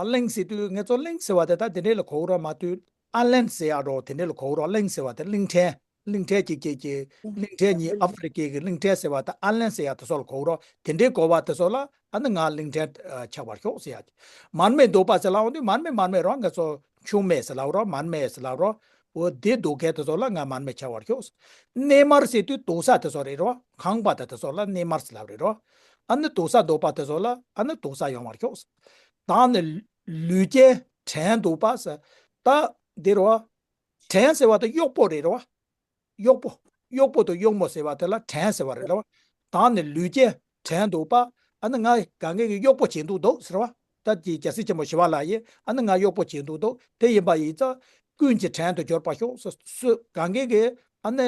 གླེང་ཟེར་དུས་ངེད་ཚོ་གླེང་ཟེར་བ་དེ་ད་དེ་འདྲའི་ལ་གོ་རོགས་མ་དུས་ཨ་ལན་ཟེར་ཡག་རོགས་དེ་འདྲའི་ལ་གོ་རོགས་གླེང་ཟེར་བ་དེ་གླིང་ཕྲན། གླིང་ཕྲན་གྱིས་ཁྱེད་ཀྱིས་གླིང་ཕྲན་གཉིས་ཨ་ཧྥི་རི་ཀའི་གླིང་ཕྲན་ཟེར་བ་དང་ཨན་ལན་ཟེར་ཡག་དེ་སོགས་ལ་གོ་རོགས་དེ་འདྲའི་གོ་བ་དེ་སོགས་ལ་ཨ་ནི་ང་གླིང་ཕྲན་ཆགས་པར་ཤོག་ཟེར་ཡག་གི། མར་མེ་འདུག་པ་ཟེར་ལའོ་འདི་མར་མེ་མར་མེ་རོགས་ངས་ཚོ་ཆུང་མེད་ཟེར་ལའོ་རོགས་མར་མེ་ཟེར་ལའོ་རོགས། འོ་དེ་འདུག་གས་དེ་སོགས་ལ་ང་མར་མེ་ཆགས་བར་ཤོག། གནས་མར་ཟེར་དུས་འདུག་ས་དེ་སོགས་རེད་རོགས་ཁང་པ་དང་དེ་སོགས་ལ་གནས་མར་ཟེར་ལབ་རེད་རོགས། ཨ་ནི་འདུག་ས་འདུག་པ་དེ་སོགས་ལ་ཨ་ནི་འདུག་ས་ཡོང་བར་ཤོག། ད་ནི་ལུས་ཅན་བྲན་འདུག་པ་ཟེར་ད་འདི་རོགས། བྲན་ཟེར་བ་དང་གཡོག་པོ་རེད་རེད་བ། གཡོག་པོ། གཡོག་པོ་དང་གཡོག་མོ་ཟེར་བ་དེ་ལ་བྲན་ཟེར་བ་རེད་རེད་བ། དང་ནི་ལུས་ཅན་བྲན་འདུག་པ། ཨ་ནི་ང་ག་གེ་གི་གཡོག་པོ་བྱེད་འདུག་འདུག་ཟེར་བ། ཏར་གྱིས་རྒྱལ་སྲིད་ཆེན་པོ་ཞི་བ་ལ་ཡིས་ཨ་ནི་ང་གཡོག་པོ་བྱེད་འདུག་འདུག་དེ་ཡིན་པ་ཡིས་ཙ། ཀུན་གྱིས་བྲན་དུ་འབྱོར་པར་ཤོག་སུ་སུ་ག་གེ་གི་ཨ་ནི།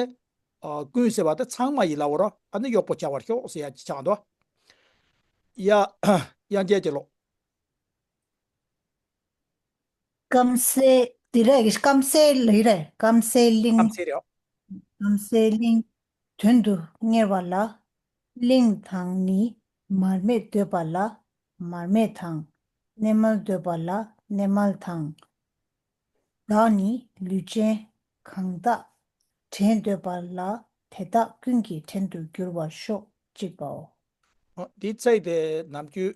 ཀུན་ཟེར་བ་དེ་ཚང་མ་ཡིས་ལ་བོར་ཨ་ནི་གཡོག་པོ་བྱ་བར་ཤོག་སུ་ཡ་གྱིས་ཆགས་འདུག་ཡ། ཡང་རྒྱལ་གྱི་ལོ། སྐམ་སའི་དེ་རེད་གི་སྐམ་སའི་ལི་རེད་སྐམ་སའི་གླིང་སྐམ་སའི་རེད། སྐམ་སའི་གླིང། དོན་དུ་གཉེར་བ་ལ། གླིང་དང་ནི་མར་མེས་འདོད་པ་ལ་མར་མེ་དང། གནས་མལ་འདོད་པ་ལ་གནས་མལ་དང། བདག་ནི་ལུས་ཅན་གང་དག་བྲན་འདོད་པ་ལ་དེ་དག་ཀུན་གྱི་བྲན་དུ་འགྱུར་བར་ཤོག་ཅིག་པའོ། འདི་བརྩེགས་ཏེ་ནམ་རྒྱུན།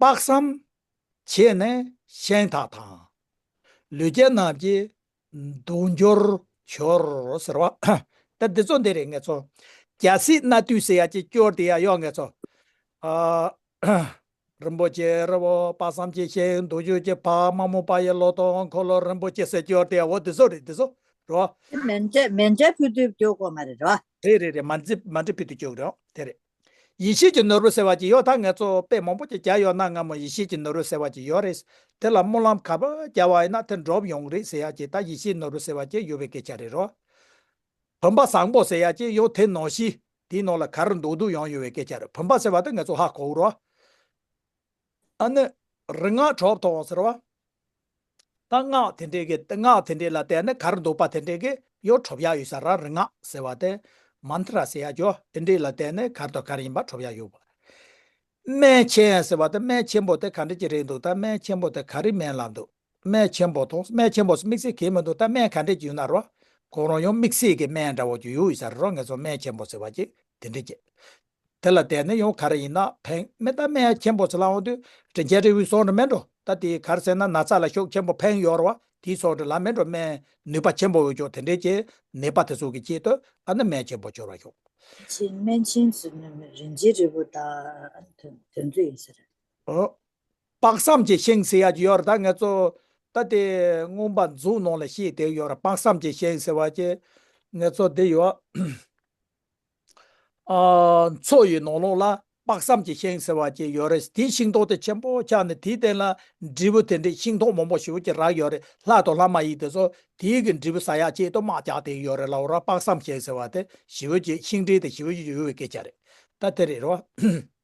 དཔག་བསམ་བྱས་ནས་གཞན་དག་དང། ལུས་རྒྱ་རྣམས་ཀྱིས་འདུག་འགྱུར་བྱོར་ཟེར་བ། ད་འདི་ཚོ་འདི་རེད་ངེས་ཚོ། རྒྱ་སྲིད་གནའ་དུས་སེ་ཡ་གཅིག་སྐྱོར་དེ་ཡ་ཡོག་ངེས་ཚོ། རིན་པོ་ཆེ་རི་བོ་དཔག་བསམ་གྱིས་གཤེགས་འདུག་འགྱུར་གྱི་བག་མ་མོ་པ་ཡི་ལོ་ཏོག་འཁོར་ལོ་རིན་པོ་ཆེ་སེ་སྐྱོར་དེ་ཡ་འོ་འདི་ཚོ་རེད་འདི་ཚོ་རེད། མན་ཇེ་མན་ཇེ་ཕུ་དུད་སྐྱོ་གོ་མ་རེད་རོ། རེད་རེད་རེད་མན་ཇེ་མན་ཇེ་ཕུ་དུད་སྐྱོ་གོ་རེད་དེ་རེད། ཡེ་ཤེས་ཀྱི་ནོར་བུ་ཟེར་བ་ཅིག་ཡོད་ད་ངས་གཙོ་བོ་དཔེ་མང་པོ་ཅིག་རྒྱག་ཡོད་ན་སྔ་མོ་ཡེ་ཤེས་ཀྱི་ནོར་བུ་ཟེར་བ་ཅིག་ཡོད་རེད། དེ་ལ་སྨོན་ལམ་ག་པར་རྒྱག་བ་ཡིན་ན་དེ་འགྲོབ་ཡོང་རེད་ཟེར་ཡག་ཅིག་ད་ཡེ་ཤེས་ནོར་བུ་ཟེར་བ་ཅིག་ཡོད་པའི་སྐད་ཆ་རེད་རོ། བུམ་པ་བཟང་པོ་ཟེར་ཡག་ཅིག་ཡོད་དེ་ནོར་བཞི་དེའི་ནང་ལ་ག་རེ་འདུག་འདུག་ཡང་ཡོད་བའི་སྐད་ཆ་རེད་བུམ་པ་ཟེར་བ་དེ་ངས་གཙོ་ཧ་གོ་རོ། ཨ་ནི། རིག་སྔགས་གྲོགས་དང་ཟེར་བ། རྟ་སྔགས་དེ་འདྲའི་གི་སྔགས་དེ་འདྲའི་ལ་བལྟས་ན་གར་འདུག་པ་དེ་འདྲའི་གི་གཡོ་ཁྲོབ་ཡག་ཡོད་ས་ར་རི་སྔགས་ཟེར་བ་དེ། Mantra ཟེར་ཡག་གྱོ་དེ་འདྲའི་ལ་བལྟས་ནས་གར་དང་གར་ཡིན་པ་ཁྲོབ་ཡག་ཡོད་པ། སྨན་ཆེན་ཟེར་བ་དེ་སྨན་ཆེན་པོ་དེ་ག་འདྲ་གྱི་རེད་འདུག་ད་སྨན་ཆེན་པོ་དེ་ག་རི་སྨན་ལ་འདུག་སྨན་ཆེན་པོ་དང་སྨན་ཆེན་པོ་སུ་དམིགས་བསལ་གྱི་མི་འདུག་ད་སྨན་ག་འདྲའི་གྱི་ཡོད་ན་ར་གང་རང་ཡང་དམིགས་བསལ་གྱི་སྨན་འདྲ་བོ་གྱི་ཡོད་ཡོད་ས་ར་ར་ངེད་ཚོ་སྨན་ཆེན་པོ་ཟེར་བ་གྱི་དེ་འདྲའི་གྱི་དེ་ལ་བསྡད་ན་ཡང་ག་རེ་ཡིན་ན་ཕན། མི་རྟ་སྨད་ཁྱེད་འབོ་ཚ་ལ་འོང་དུས་དྲིན་ཆེན་རི་བོའི་སོག་འགྲོ་སྨད་འགྲོ་ད་དེའི་གར་ཟེར་ན་ན་ཚ་ལ་ཤོག་ཁྱེད་འབོ་ཕན་ཡོར་བ་དེའི་སོག་འགྲོ་ལ་སྨད་འགྲོ་སྨད་ནུས་པ་ཁྱེད་འབོ་འོས་ཆོག་དེ་འདྲའི་ཀྱེ་ནད་པ་དེ་ཚོ་གི་ཀྱེ་ལྟོས་ཨ་ན་སྨད་ཁྱེད་འབོ་འབྱོར་བ་ཤོག། དེ་ཕྱིར་སྨན་ཆེན་ཚོས་ནུ་མི་རིན་ཆེན་རི་བོ་དང་དོན་ཚོད་ཡིན་ཟེར། དཔག་བསམ་གྱི་ཤིང་ཟེར་ཡ་གྱི་ཡོར་ད་ངེད་ཚོ་ད་དེ་རྔོན་པ་འཛུགས་ནང་ལ་ཤེས་དེའི་ཡོར་དཔག་བསམ་གྱི་ཤིང་ཟེར་བ་ཀྱེ་ངེད་ཚོ་དེ་ཡོ། མཚོ་ཡི་ནོར་ལུག་ལ་དཔག་བསམ་གྱི་ཤིང་ཟེར་བ་ཅིག་ཡོད་རེད་དེའི་ཤིང་ཐོག་དེ་ཆེན་པོ་ཆགས་ནས་དེའི་སྟེང་ལ་འབྲས་བུ་དེ་འདྲའི་ཤིང་ཐོག་མང་པོ་ཞིག་གི་རགས་ཡོད་རེད་ལྷ་དང་ལྷ་མ་ཡིན་དེ་ཚོ་དེའི་གི་འབྲས་བུ་ཟ་ཡག་ཅེས་དུ་དམག་རྒྱག་དེ་ཡོད་རེད་ལ་འོ་ར་དཔག་བསམ་ཤིང་ཟེར་བ་དེ་ཞི་བོད་ཀྱི་ཤིང་འབྲས་དེ་ཞི་བོད་ཀྱི་ཡུལ་བའི་སྐད་ཆ་རེད་ད་དེ་རེད་རེད་བ།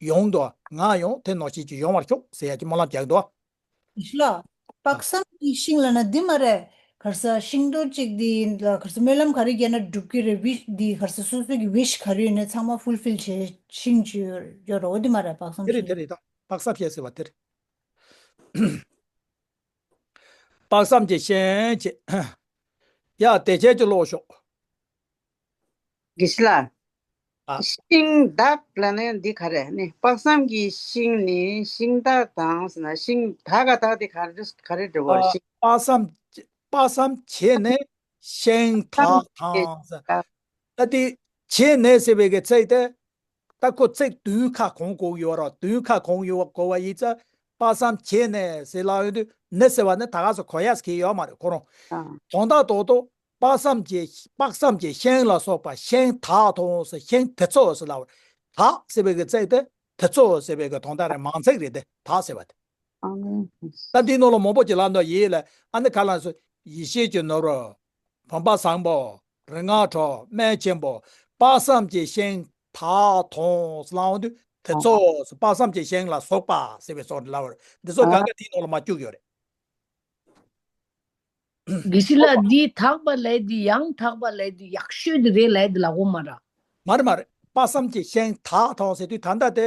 ཡོང་འདུག་ང་ཡང་དེ་ནང་ཞིག་གིས་ཡོང་བར་ཤོག་ཟེར་ཡ་གི་སྨོན་ལམ་རྒྱག་འདུག། ཞི་ལ། དཔག་བསམ་གྱི་ཤིང་ལ་ན་འདི་མ་རེད། གར་ས་ཤིང་རྡོ་གཅིག་འདི་ཡིན་ལ་གར་ས་སྨོན་ལམ་ག་རེ་བརྒྱབ་ན་འགྲུབ་ཀྱི་རེད་བྷི་འདི་གར་ས་སོ་སོ་གྱི wish ག་རེ་ཡོད་ན་ཚང་མ full fill བྱས་ཤིང་ཅི་ཡོད་རོགས་འདི་མ་རེད་དཔག་བསམ་དེ་རེད་ཤིང། དེ་རེད་ད་དཔག་བསམ་ཤིང་ཟེར་བ་དེ་རེད། དཔག་བསམ་གྱི་ཤིང་ཅེས། ཡ་དེ་ཁྱེད་ཀྱིས་ཀློག་ཤོག། གིས་ལ། ཤིང་བདག་ལ་ནི་འདི་ག་རེ་ནི་དཔག་བསམ་གྱི་ཤིང་ནི་ཤིང་བདག་དང་ཟེར་ན་ཤིང་བདག་ག་དག་དེ་ག་རེ་ག་རེ་འབྲི་བ་རེ་ཤིང། དཔག་བསམ་དཔག་བསམ་བྱས་ནས་ཤིང་བདག་དང་ཟེར། ད་དེ་བྱས་ནས་ཟེར་བའི་གི་ཚིག་དེ་རྟ་ཁོ་ཚེག་བདུན་ཁ་གོང་བསྐོར་ཡོད་རོ་བདུན་ཁ་གོང་ཡོད་བསྐོར་བ་ཡིས་རྩ་པ་བསམ་བྱས་ནས་ཟེར་ལ་འོན་ཏུ་ནི་ཟེར་བ་ནི་ད་ག་ཟེ་གོ་ཡས་གི་ཡོད་མ་རེད་གོ་རུང། དོང་དག་དོག་དོག་དཔག་བསམ་བྱས་དཔག་བསམ་བྱས་ཤེང་ལ་སོགས་པ་ཤེང་དག་དོང་ཟེར་ཤེང་དེ་ཚོ་ཟེར་ལ་བར་དག་ཟེར་བའི་གི་ཚེག་དེ་དེ་ཚོ་ཟེར་བའི་གི་དོང་དག་རེད་མང་ཚེག་རེད་དེ་དག་ཟེར་བ་དེ། རྟ་འདིའི་ནོར་ལ་མོག་པོ་གྱི་ལ་ནོར་ཡིད་ལ་ཨ་ནི་ག་ལ་ཡིན་སོ་ཡིད་ཤེས་ཀྱི་ནོར་བོ། བུམ་པ་བཟང་པོ་རིག་སྔགས་འཕྲོག་སྨན་ཆེན་པོ་དཔག་བསམ་གྱི་ཤིང་དག་དོང་སླང་དུ་དེ་ཚོགས་སུ་དཔག་བསམ་གྱི་ཤིང་ལ་སོགས་པ་ཟེར་བའི་སོགས་འདི་ལ་བར་འདི་ཚོ་གང་ག་དེའི་ནང་ལ་མ་བཅུག་ཡོད་རེད། དགེ་བཤེས་ལགས་འདི་དག་པ་ལས་དེ་ཡང་དག་པ་ལས་དེ་ཡག་ཤོས་དེ་རེད་ལས་དེ་ལ་འོ་མ་ར། མ་རེད་མ་རེད་དཔག་བསམ་གྱི་ཤིང་དག་དོང་ཟེར་དུས་ད་ལྟ་དེ་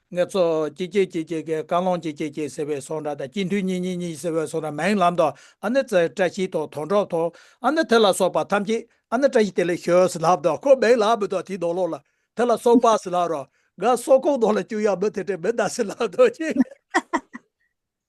ངས་ཚོ། ཀྱེ་ཀྱེ་ཀྱེ་ཀྱེ་ཀྱེ་རྐང་ལོང་ཀྱེ་ཀྱེ་ཀྱེ་ཟེར་བའི་སོག་འདྲ་དང་སྐྱིད་མཐུས་གཉིས་གཉིས་གཉིས་ཟེར་བའི་སོག་འདྲ་མའི་ལམ་དང་ཨ་ནི་ཙེ་བཀྲ་ཤིས་དང་དོན་གྲོགས་དང་ཨ་ནི་དེ་ལ་སོགས་པ་ཐམས་ཅད་ཨ་ནི་བཀྲ་ཤིས་དེ་ལས་ཤོས་སི་ལབ་དང་ཁོ་མེག་ལ་མི་དང་དེའི་ནོར་ལོག་ལ་དེ་ལ་སོགས་པ་སི་ལབ་རང་དགའ་སོག་ཁོག་ནོར་ལ་བཅུག་ཡང་མི་དེ་བྲེལ་མི་འདའ་སི་ལབ་དང་ཀྱེ།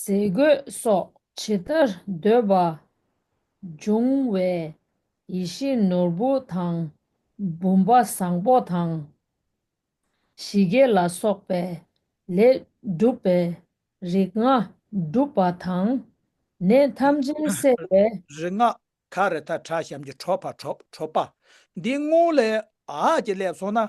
ཟས་གོས་སོགས་ཇི་ལྟར་འདོད་པ་འབྱུང་བའི་ཡེ་ཤེས་ནོར་བུ་དང་བུམ་པ་བཟང་པོ་དང། ཞི་རྒྱས་ལ་སོགས་པའི་ལས་བསྒྲུབ་པའི་རིགས་ལྔ་བསྒྲུབ་པ་དང། ནད་ཐམས་ཅད་བསལ་བའི། རིགས་ལྔ་ཁ་རི་ཐ་བྲག་བྱམས་ཀྱི་ཁྲོ་བ་ཁྲོ་པ། འདིའི་སྔོན་ལས་ཀྱི་ལས་བཟུང་ན་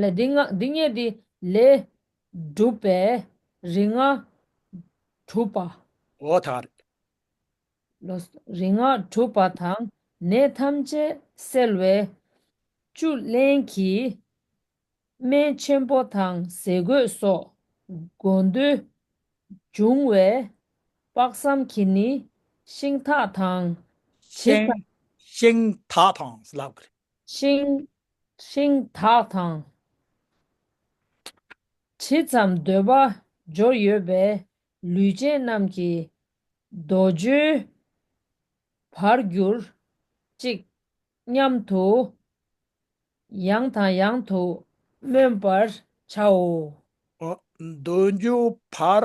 ལས་འདི་ལྔ་འདི་ལྔས་འདི་ལས་བསྒྲུབས་པས་རིགས་ལྔ་གྲུབ་པ། འོ་ད། རིགས་ལྔ་གྲུབ་པ་དང་ནད་ཐམས་ཅད་སེལ་བའི་བཅུད་ལེན་གྱི་སྨན་ཆེན་པོ་དང་ཟས་གོས་སོགས་དགོས་འདོད་འབྱུང་བས་དཔག་བསམ་གྱིས་ནི་ཤིང་ཐག་དང་བྱི་ཤིང། ཤིང། ཐག་དང། ལག་གི་རིགས། ཤིང། ཤིང་དག་དང། ཇི་ཙམ་འདོད་པ་སྦྱོར་ཡོད་པའི་ལུས་ཅན་རྣམས་ཀྱི་རྡོ་རྗེའི་བར་གྱུར་ཅིག་སྙམ་དུ་ཡང་དང་ཡང་དུ་སྨོན་པར་བྱའོ། རྡོ་རྗེའི་བར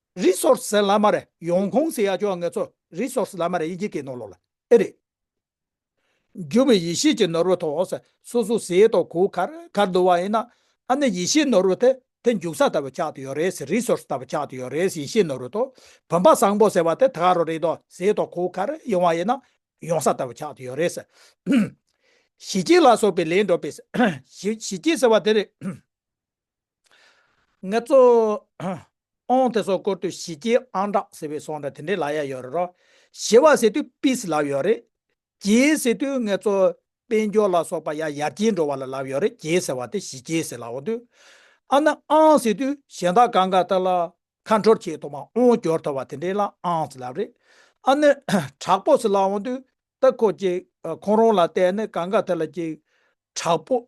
Resource ཟེར་ལ་མ་རེད་ཡོང་ཁུང་ཟེར་ཡ་ཅོ་ངེད་ཚོ Resource ལ་མ་རེད་ཡི་གེ་གི་ནོར་ལོག་ལ་ཨེ་རེད། འགྱུར་བའི་ཡེ་ཤེས་ཀྱི་ནོར་བུ་ཐོག་ས་སོ་སོ་ཟས་ཐོག་གུ་གར་གར་འདུ་བ་ཡིན་ན་ཨ་ནི་ཡེ་ཤེས་ནོར་བུ་དེ་དེ་འཇུག་ས་ལྟ་བུ་ཆགས་ཏུ་ཡོད་རེད་ཟེར Resource ལྟ་བུ་ཆགས་ཏུ་ཡོད་རེད་ཡེ་ཤེས་ནོར་བུ་ཐོག་བུམ་པ་བཟང་པོ་ཟེར་བ་དེ་ད་ག་རུ་རེད་དོ་ཟས་ཐོག་གུ་གར་ཡོང་བ་ཡིན་ན་ཡོང་ས་ལྟ་བུ་ཆགས་ཏུ་ཡོད་རེད་ཟེར། ཞི་རྒྱས་ལ་སོགས་པའི་ལན་སྒྲོག་པའི་ཞི་རྒྱས་ཟེར་བ་དེ་རེད། ངེད་ཚོ། ཨོང་དེ་སོགས་བསྐོར་དུས་ཞི་རྒྱས་ཨང་གྲགས་ཟེར་བའི་སོང་འདྲ་དེ་འདྲའི་ལ་ཡ་ཡོད་རེད་རོ། ཞི་བ་ཟེར་དུས peace ལབ་ཡོད་རེད། རྒྱས་ཟེར་དུས་ངེད་ཚོ་དཔལ་འབྱོར་ལ་སོགས་པ་ཡ་ཡར་རྒྱས་འགྲོ་བ་ལ་ལབ་ཡོད་རེད་རྒྱས་ཟེར་བ་དེ་ཞི་རྒྱས་ཟེར་ལ་འོང་དུས། ཨ་ན་ཨང་ཟེར་དུས་གཞན་དག་གང་ག་ལྟར་ལ། ཁ་འཕྲོར་ཆེས་ཐོག་མ་ཨོང་སྐྱོར་ཐོབ་བ་དེ་འདྲའི་ལ་ཨང་ཟེར་ལབ་རེད། ཨ་ན། དྲག་པོ་ཟེར་ལ་འོང་དུས། ད་ཁོ་ཅིག་ཁོང་རང་ལ་བལྟས་ནས་གང་ག་ཐད་ལ་ཅིག། དྲག་པོ།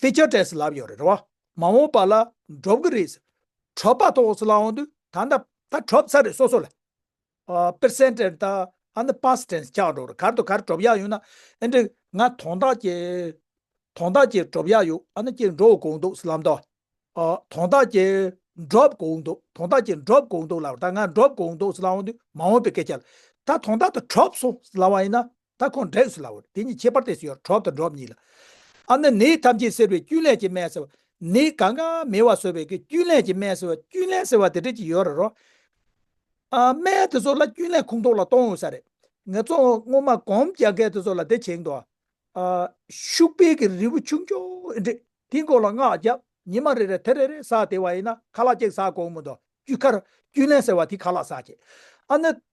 ཚེ་ཆ་བྲལ་སེ་ལབ་ཡོད་རེད་བ། མ་འོངས་པ་ལ་འགྲོབ་གི་རེད་ཟེར། གྲོབ་པ་ཐོག་སེ་ལ་འོང་དུས་ད་ནད་པ་ད་གྲོབ་ཚར་རེད་སོ་སོ་ལ། པེར་སེན་ཏེར་ད་ཨ་ནི་པཱ་སི་ཏེན་སི་ཆགས་འགྲོ་རེད་གར་དུ་གར་གྲོབ་ཡག་ཡོད་ན་ཨེ་འགྲིག་ང་དོང་ཐག་ཀྱེ། དོང་ཐག་ཀྱེ་གྲོབ་ཡག་ཡོད་ཨ་ནི་ཀྱེ་འགྲོ་བ་གོང་འདུག་སེ་ལབ་འདུག། དོང་ཐག་ཀྱེ། འགྲོབ་གོང་འདུག་དོང་ཐག་ཀྱེ་འགྲོབ་གོང་འདུག་ལབ་ད་ང་འགྲོབ་གོང་འདུག་སེ་ལ་འོང་དུས་མ་འོངས་པའི་སྐད་ཆ་ལ། ད་དོང་ཐག་ད་གྲོབ་སོང་སེ་ལབ་བ་ཡིན་ན་ད་ཁོང་འདྲེས་སུ་ལ་བར་དེ་གཉིས་ཁྱད་པར་དེ་སུ་ཡོད་གྲོགས་དང་འགྲོགས་གཉིས་ལ། ཨ་ནི་ནི་ཐམས་ཅད་སེལ་བའི་རྐྱུན་ལས་ཀྱི་སྨན་ཟེར་བ། ནི་གང་གང་མི་བ་སོལ་བའི་གི་རྐྱུན་ལས་ཀྱི་སྨན་ཟེར་བ་རྐྱུན་ལས་ཟེར་བ་དེ་འདྲས་ཀྱི་ཡོད་རེད་རོ། ཨ་སྨན་དེ་ཚོ་ལ་རྐྱུན་ལས་ཁུངས་གཏོགས་ལ་གཏོང་འོས་ས་རེད། ངས་ཚོ་སྔོན་མ་གོམས་རྒྱག་མཁན་དེ་ཚོ་ལ་དེ་བྱེད་འདུག་ཨ། ཤུག་པའི་གི་རིལ་བུ་ཆུང་ཆུང་ཨེ་འདྲས་དེའི་མགོ་ལ་སྔགས་བརྒྱབ་ཉི་མ་རེ་རེར་དེ་རེ་རེ་ཟགས་དེ་བ་ཡིན་ན་ཁ་ལག་གཅིག་ཟགས་དགོས་མོད་འདུག་རྐྱུ་ཁར་རྐྱུན་ལས་ཟེར་བ་དེ་ཁ་ལག་ཟགས་ཀྱི། ཨ་ནི།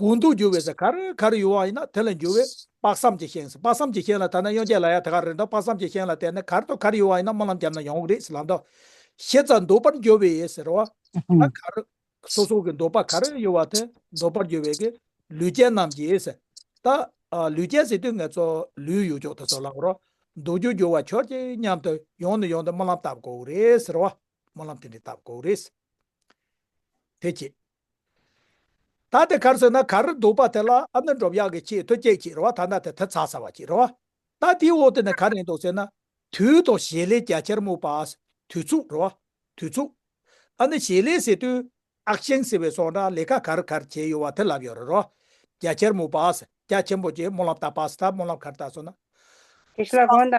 དགུང་དུ་རྒྱུ་བའི་ས་གར་གར་ཡོད་བ་ཡིན་ན་དེ་ལ་འགྱུར་བས་དཔག་བསམ་གྱི་ཤིང་དཔག་བསམ་གྱི་ཤིང་ལ་ཐ་ན་གཡོན་བརྒྱད་ལ་ཡང་དེ་གར་རེད་འདོགས་དཔག་བསམ་གྱི་ཤིང་ལ་དེ་ནི་གར་དང་གར་ཡོད་བ་ཡིན་ན་སྨོན་ལམ་བརྒྱབ་ན་ཡང་འོག་རེད་ལབ་འདོགས་ཞེ་རྩ་འདོད་པར་འགྱུར་བས་ཟེར་བ། ད་གར་སོ་སོ་གི་འདོད་པ་གར་ཡོད་བ་དེ་འདོད་པར་འགྱུར་བས་ཀྱི་ལུས་ཅན་རྣམས་ཀྱིས། ད་ལུས་ཅན་ཟེར་དུས་ངས་ཚོ་ལུས་ཡོད་ཅོག་དེ་ཚོ་ལབ་རོགས་འདོད་རྒྱུ་འགྱུར་བ་ཁྱོད་ཀྱི་སྙམ་དུ་ཡོང་ནི་ཡོང་དུ་སྨོན་ལམ་བཏབ་དགོས་རེད་ཟེར་བ། སྨོན་ལམ་དེ་འདྲའི་བཏབ་དགོས་རེད། དེ་ཁྱེད། ད་དེ་གར་ཟོས་ན་ག་རེར་འདུག་པ་དེ་ལ་ཨ་ནི་འགྲོབ་ཡག་གི་ཆེས་མཐོ་སྐྱེས་ཀྱི་རེ་བ་ཐ་ན་དེ་ཐེབས་ཚ་ས་བ་ཀྱི་རེ་བ། ད་དེའི་འོག་ཏུ་ནས་ག་རེ་འདུག་ཟེར་ན། དུས་དང་བྱེད་ལས་རྒྱ་ཆེར་སྨུག་པ། དུས་ཚུགས་རེ་བ། དུས་ཚུགས། ཨ་ནི་བྱེད་ལས་ཟེར་དུས། ཨག་ཆེན་ཟེར་བའི་སོགས་འདྲ་ལས་ཀ་ག་རེ་ག་རེ་བྱས་ཡོད་བ་དེ་ལབ་ཡོད་རེ་རེ་བ། རྒྱ་ཆེར་སྨུག་པ། རྒྱ་ཆེན་པོ་ཀྱི་སྨོན་ལམ་ལྟ་པ་ཟེར་ད་སྨོན་ལམ་ག་རེ་བཏགས་སོང་ན། དེ་ཤི་ལ་གོང་དང།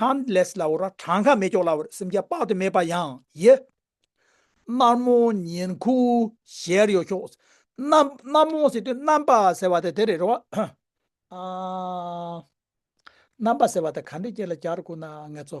Countless ལ་བོར་བ་གྲངས་ཁ་མེད་ཀྱོག་ལ་བོར་སེམས་རྒྱ་དཔག་ཏུ་མེད་པ་ཡང་ཡི། རྣར་མོ་ཉིན་ཁུ་ཞལ་ཡོ་ཤོག། རྣར་མོ་ཟེར་དུས་རྣམ་པ་ཟེར་བ་དེ་དེ་རེད་རོ། རྣམ་པ་ཟེར་བ་དེ་ག་འདྲའི་སྐད་ལ་རྒྱག་རུ་ཁུག་ན་ངེད་ཚོ།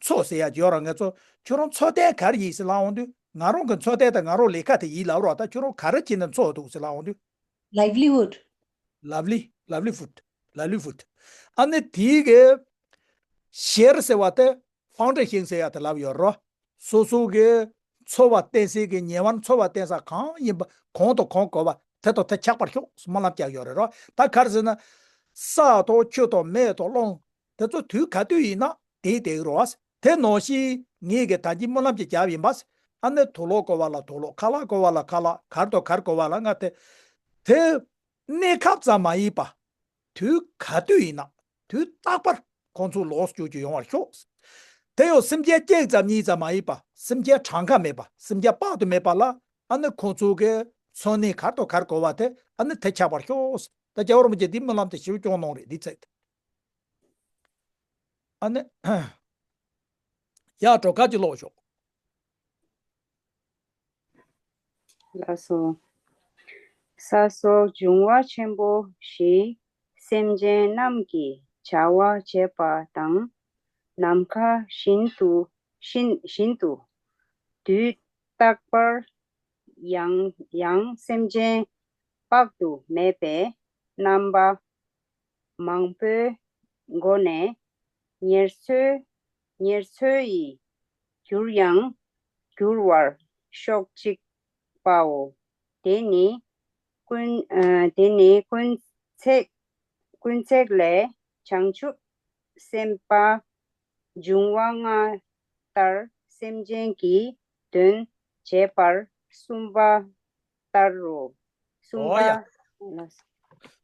ཚོགས་ཟེར་ཡ་ཇོ་རང་གི་ཚོ་ཁྱོད་རང་ཚོ་ལྟའི་གར་ཡིན་ཟེར་ལབ་འོང་དུས་ང་རང་གི་ཚོ་ལྟའི་ད་ང་རང་ལས་ཁ་དེ་ཡིན་ལབ་རོགས་ད་ཁྱོད་རང་ག་རེ་བྱེད་ནས་འཚོ་འདུག་ཟེར་ལབ་འོང་དུས། Livelihood། Lovely Livelihood Livelihood ཨ་ནི་དེའི་གི། ཞེར་ཟེར་བ་དེ་ཧྥང་ཀྲེ་ཤིང་ཟེར་ཡ་དེ་ལབ་ཡོད་རོགས། སོ་སོ་གི་འཚོ་བ་བརྟེན་སའི་གི་ཉེ་བར་འཚོ་བ་བརྟེན་ས་གང་ཡིན་པ་གང་དང་གང་གོ་བ་དེ་དང་དེ་ཁྱག་པར་ཤོག་སྨོན་ལམ་བསྐྱལ་ཡོད་རེད་རོགས་ད་གར་ཟེར་ན། ས་དང་ཆུ་དང་མེ་དང་རླུང། དེ་ཚོ་དུས་ག་དུས་ཡིན་ན་དེའི་དེའི་རོ། དེ་ནོ་ཞི། ངེད་ཀྱི་ད་ལྕི་སྨོན་ལམ་གྱི་རྒྱབ་ཡིན་པ། ཨ་ནེ་དོ་ལོག་བསྐོར་བ་ལ་དོ་ལོག་ཁ་ལག་བསྐོར་བ་ལ་ཁ་ལག་གར་དོ་གར་བསྐོར་བ་ལ་ང་དེ། དེ། གནས་སྐབས་ཙམ་མ་ཡིན་པ། དུས་ག་དུས་ཡིན་ན་དུས་རྟག་པར་ཁོང་ཚོ་ལོགས་སུ་བསྐྱུར་རྒྱུ་ཡོང་བར་ཤོག། དེ་ཡང་སེམས་ཁྱལ་སྐྱེག་ཙམ་གཉིས་ཙམ་མ་ཡིན་པ་སེམས་ཁྱལ་གྲངས་ཀ་མེད་པ་སེམས་ཁྱལ་དཔག་ཏུ་མེད་པ་ལ་ཨ་ནེ་ཁོང་ཚོ་གི་འཚོ་གནས་གར་དོ་གར་བསྐོར་བ་དེ་ཨ་ནེ་དེ་ཆགས་པར་ཤོག། ད་རྒྱ་བོར་མོ་ཀྱི་འདིའི་སྨོན་ལམ་དེ་ཞིབ་སྐྱོང་གནང་རེ་འདི་ཚེ། ཨ་ནེ། ཡག་འགྲོ་ཁ་ཅིག་ལོག་ཤོག། ལ་སོགས། ས་སོགས་འབྱུང་བ་ཆེན་པོ་བཞི། སེམས་ཅན་རྣམས་ཀྱི་བྱ་བ་བྱེད་པ་དང། ནམ་མཁའ་བཞིན་དུ། བཞིན་དུ། དུས་རྟག་པར། ཡང། སེམས་ཅན་དཔག་ཏུ་མེད་པའི་རྣམ་པ། མང་པོའི་སྒོ་ནས་ཉེར་འཚོའི་ཉེར་འཚོའི་ཡི་གྱུར་ཡང་འགྱུར་བར་ཤོག་ཅིག་པའོ། དེ་ནི་ཀུན། དེ་ནི་ཀུན། ཀུན་བརྩེགས་ལས་བྱང་ཆུབ་སེམས་དཔའ་འབྱུང་བ་སྔ་ལྟར་སེམས་ཅན་གྱི་དོན་བྱེད་པར་གསུམ་པ་ལྟར་རོ། གསུམ་པ།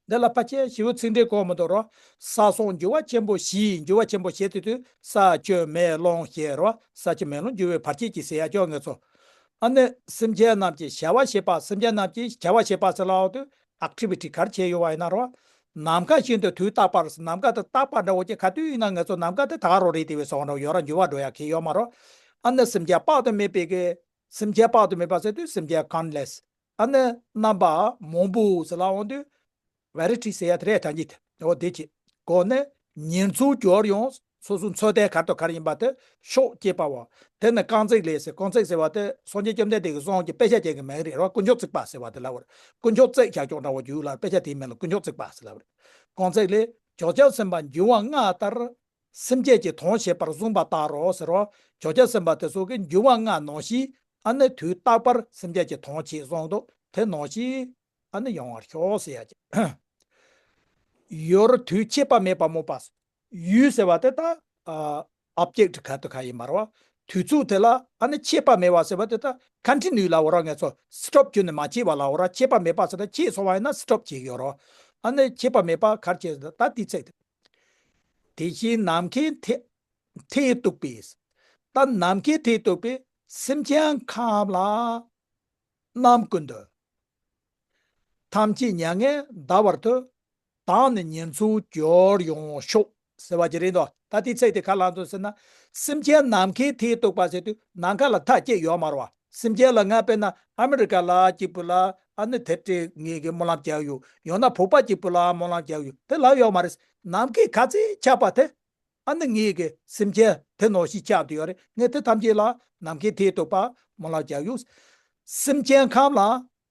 འདི་ལ་པ་ཅའི་བྱེའུ་ཚིག་འབྲས་གོང་མི་དོར་རོ། ས་སོགས་འགྱུར་བ་ཆེན་པོ་བཞིའི་འགྱུར་བ་ཆེན་པོ་ཞེས་དེ་དུས་ས་བཅོས་མེ་ལོང་ཞེས་རོ། ས་བཅོས་མེ་ལོང་འགྱུར་བའི་བར་ཁྱད་ཀྱིས་སེ་ཡ་ཅོག་ངེས་སོ། ཨ་ནི་སེམས་ཅན་རྣམས་ཀྱི་བྱ་བ་བྱེད་པ་སེམས་ཅན་རྣམས་ཀྱིས་བྱ་བ་བྱེད་པ་སེ་ལའོ་དུ Activity གར་བྱེད་ཡོད་བ་ཡིན་ན་རོ། ནམ་མཁའ་བཞིན་དུ་དུས་རྟག་པར་ནམ་མཁའ་དང་རྟག་པར་འདྲ་བོ་ཅི་ག་དུས་ཡིན་ན་ངེས་སོ་ནམ་མཁའ་དེ་དག་རོ་རེད་དེ་བས་སོགས་འདྲ་བོ་ཡོད་ར་འགྱུར་བ་འགྲོ་ཡ་གི་ཡོད་མ་རོ། ཨ་ནི་སེམས་ཅན་དཔག་ཏུ་མེད་པའི་སེམས་བསྐྱེད་དཔག་ཏུ་མེད་པ་བསལ་དུས་སེམས་བསྐྱེད countless ཨ་ནི་རྣམ་པ་མང་པོ་ཟིལ་ལ་འོང་དུས variety ཟེར་ཡ་དེ་རེད་དྲ་ཉིད་འོ་དེ་ཀྱི་སྒོ་ནས་ཉེར་འཚོའི་སྐྱོར་ཡང་སོ་སོའི་འཚོལ་བསྡད་གར་དང་གར་ཡིན་པ་དེ་ཤོག་སྐྱེས་པ་བ་དེ་ནི་རྐང་བརྩེགས་ལས་ཟེར་རྐང་བརྩེགས་ཟེར་བ་དེ་སངས་རྒྱས་བཅོམ་ལྡན་འདས་ཀྱི་གསུང་གི་དཔེ་ཆ་ཅན་གྱི་མིང་རེད་ར་བ་དཀོན་མཆོག་བརྩེགས་པ་ཟེར་བ་དེ་ལ་བར་དཀོན་མཆོག་བརྩེགས་བྱ་ཀྱང་ར་བ་རྒྱུད་ལ་དཔེ་ཆ་དེའི་མིང་ལ་དཀོན་མཆོག་བརྩེགས་པ་ཟེར་ལ་བར་རྐང་བརྩེགས་ལས་ཇོ་ཅཱ་སེམས་དཔའ་འབྱུང་བ་ལྔ་ལྟར་སེམས་བསྐྱེད་ཀྱི་དོན་བྱེད་པར་གསུངས་པ་ལྟར་རོ་ཟེར་རོ། བྱོ་རྒྱལ་སེམས་དཔའ་དེ་སྲོག་གི་འགྱུར་བ་ལྔ་ནོ་ཞེས་ཨ་ནི་དུས་རྟག་པར་སེམས་བསྐྱེད་ཀྱི་དོན་བྱེད་གསུངས་འདུག་དེ་ནོ་ཞེས་ཨ་ནི་ཡོང་བར་ཤོག་ཟེར་ཡ་ཀྱི། ཡོར་དུས་ཁྱད་པར་མེད་པར་མོས་པ། ཡུལ་ཟེར་བ་དེ་དག་ཨ་བསྐྱེད་ཀྱི་གལ་དུ་ག་ཡིན་པར་བ། དུས་ཚུགས་དེ་ལ་ཨ་ནི་ཁྱད་པར་མེད་བ་ཟེར་བ་དེ་དག་ཁ་འཕྲི་ནུས་ལའོ་ར་ངས་ཚོ་སི་ཁྲོབ་གྱོན་ནས་མ་བྱས་བ་ལའོ་ར་ཁྱད་པར་མེད་པ་ཟེར་ན་ཁྱེད་ཚོ་བ་ཡིན་ན་སི་ཁྲོབ་བྱས་ཡོད་རོ། ཨ་ནི་ཁྱད་པར་མེད་པར་གར་བྱས་ཟེར་ད་ཏི་ཚེག་དེ། དེ་བཞིན་ནམ་མཁའི་མཐས་གཏུགས་པའི་ས། ནམ་མཁའི་མཐས་གཏུགས་པའི་སེམས་ཅན་ཁམས་ལ། རྣམ་ཀུན་དུ། ཐམས་ཅད་མྱ་ངན་འདའ་བར་དུ། བདག་ནི་ཉེར་འཚོའི་སྦྱོར་ཡོང་ཤོག། ཟེར་བ་ཇི་རིགས་མདོག་ད་ལྟའི་ཚད་དེ་ག་ལ་འཚོལ་ཟེར་ན། སེམས་ཅན་ནམ་མཁའི་མཐས་གཏུགས་པ་ཟེར་དུས་ནམ་མཁའ་ལ་མཐའ་བསྐྱེད་ཡོད་མ་རུང་བ། སེམས་ཅན་ལ་ངའཔེ་ན་ཨ་མི་རི་ཀ་ལ་གཅིག་པུ་ལ་ཨ་ནི་དེབ་ཕྲེ་ངེས་ཀྱི་སྨོན་ལམ་བརྒྱག་ཡོད་ཡོང་ན་བུག་པ་གཅིག་པུ་ལའང་སྨོན་ལམ་བརྒྱག་ཡོད་དེ་ལབ་ཡོད་མ་རེད་ནམ་མཁའི་ཁ་ཚེ་ཆགས་པ་དེ་ཨ་ནི་ངེས་ཀྱི་སེམས་ཅན་དེ་ནོར་ཞིག་ཆགས་འདུག་ཡོད་རེད་ངས་དེ་ཐམས་ཅད་ལ་ནམ་མཁའི་མཐིལ་དུ་པདྨོ་ལ་བརྒྱག་ཡོད། སེམས་ཅན་ཁམས་ལ་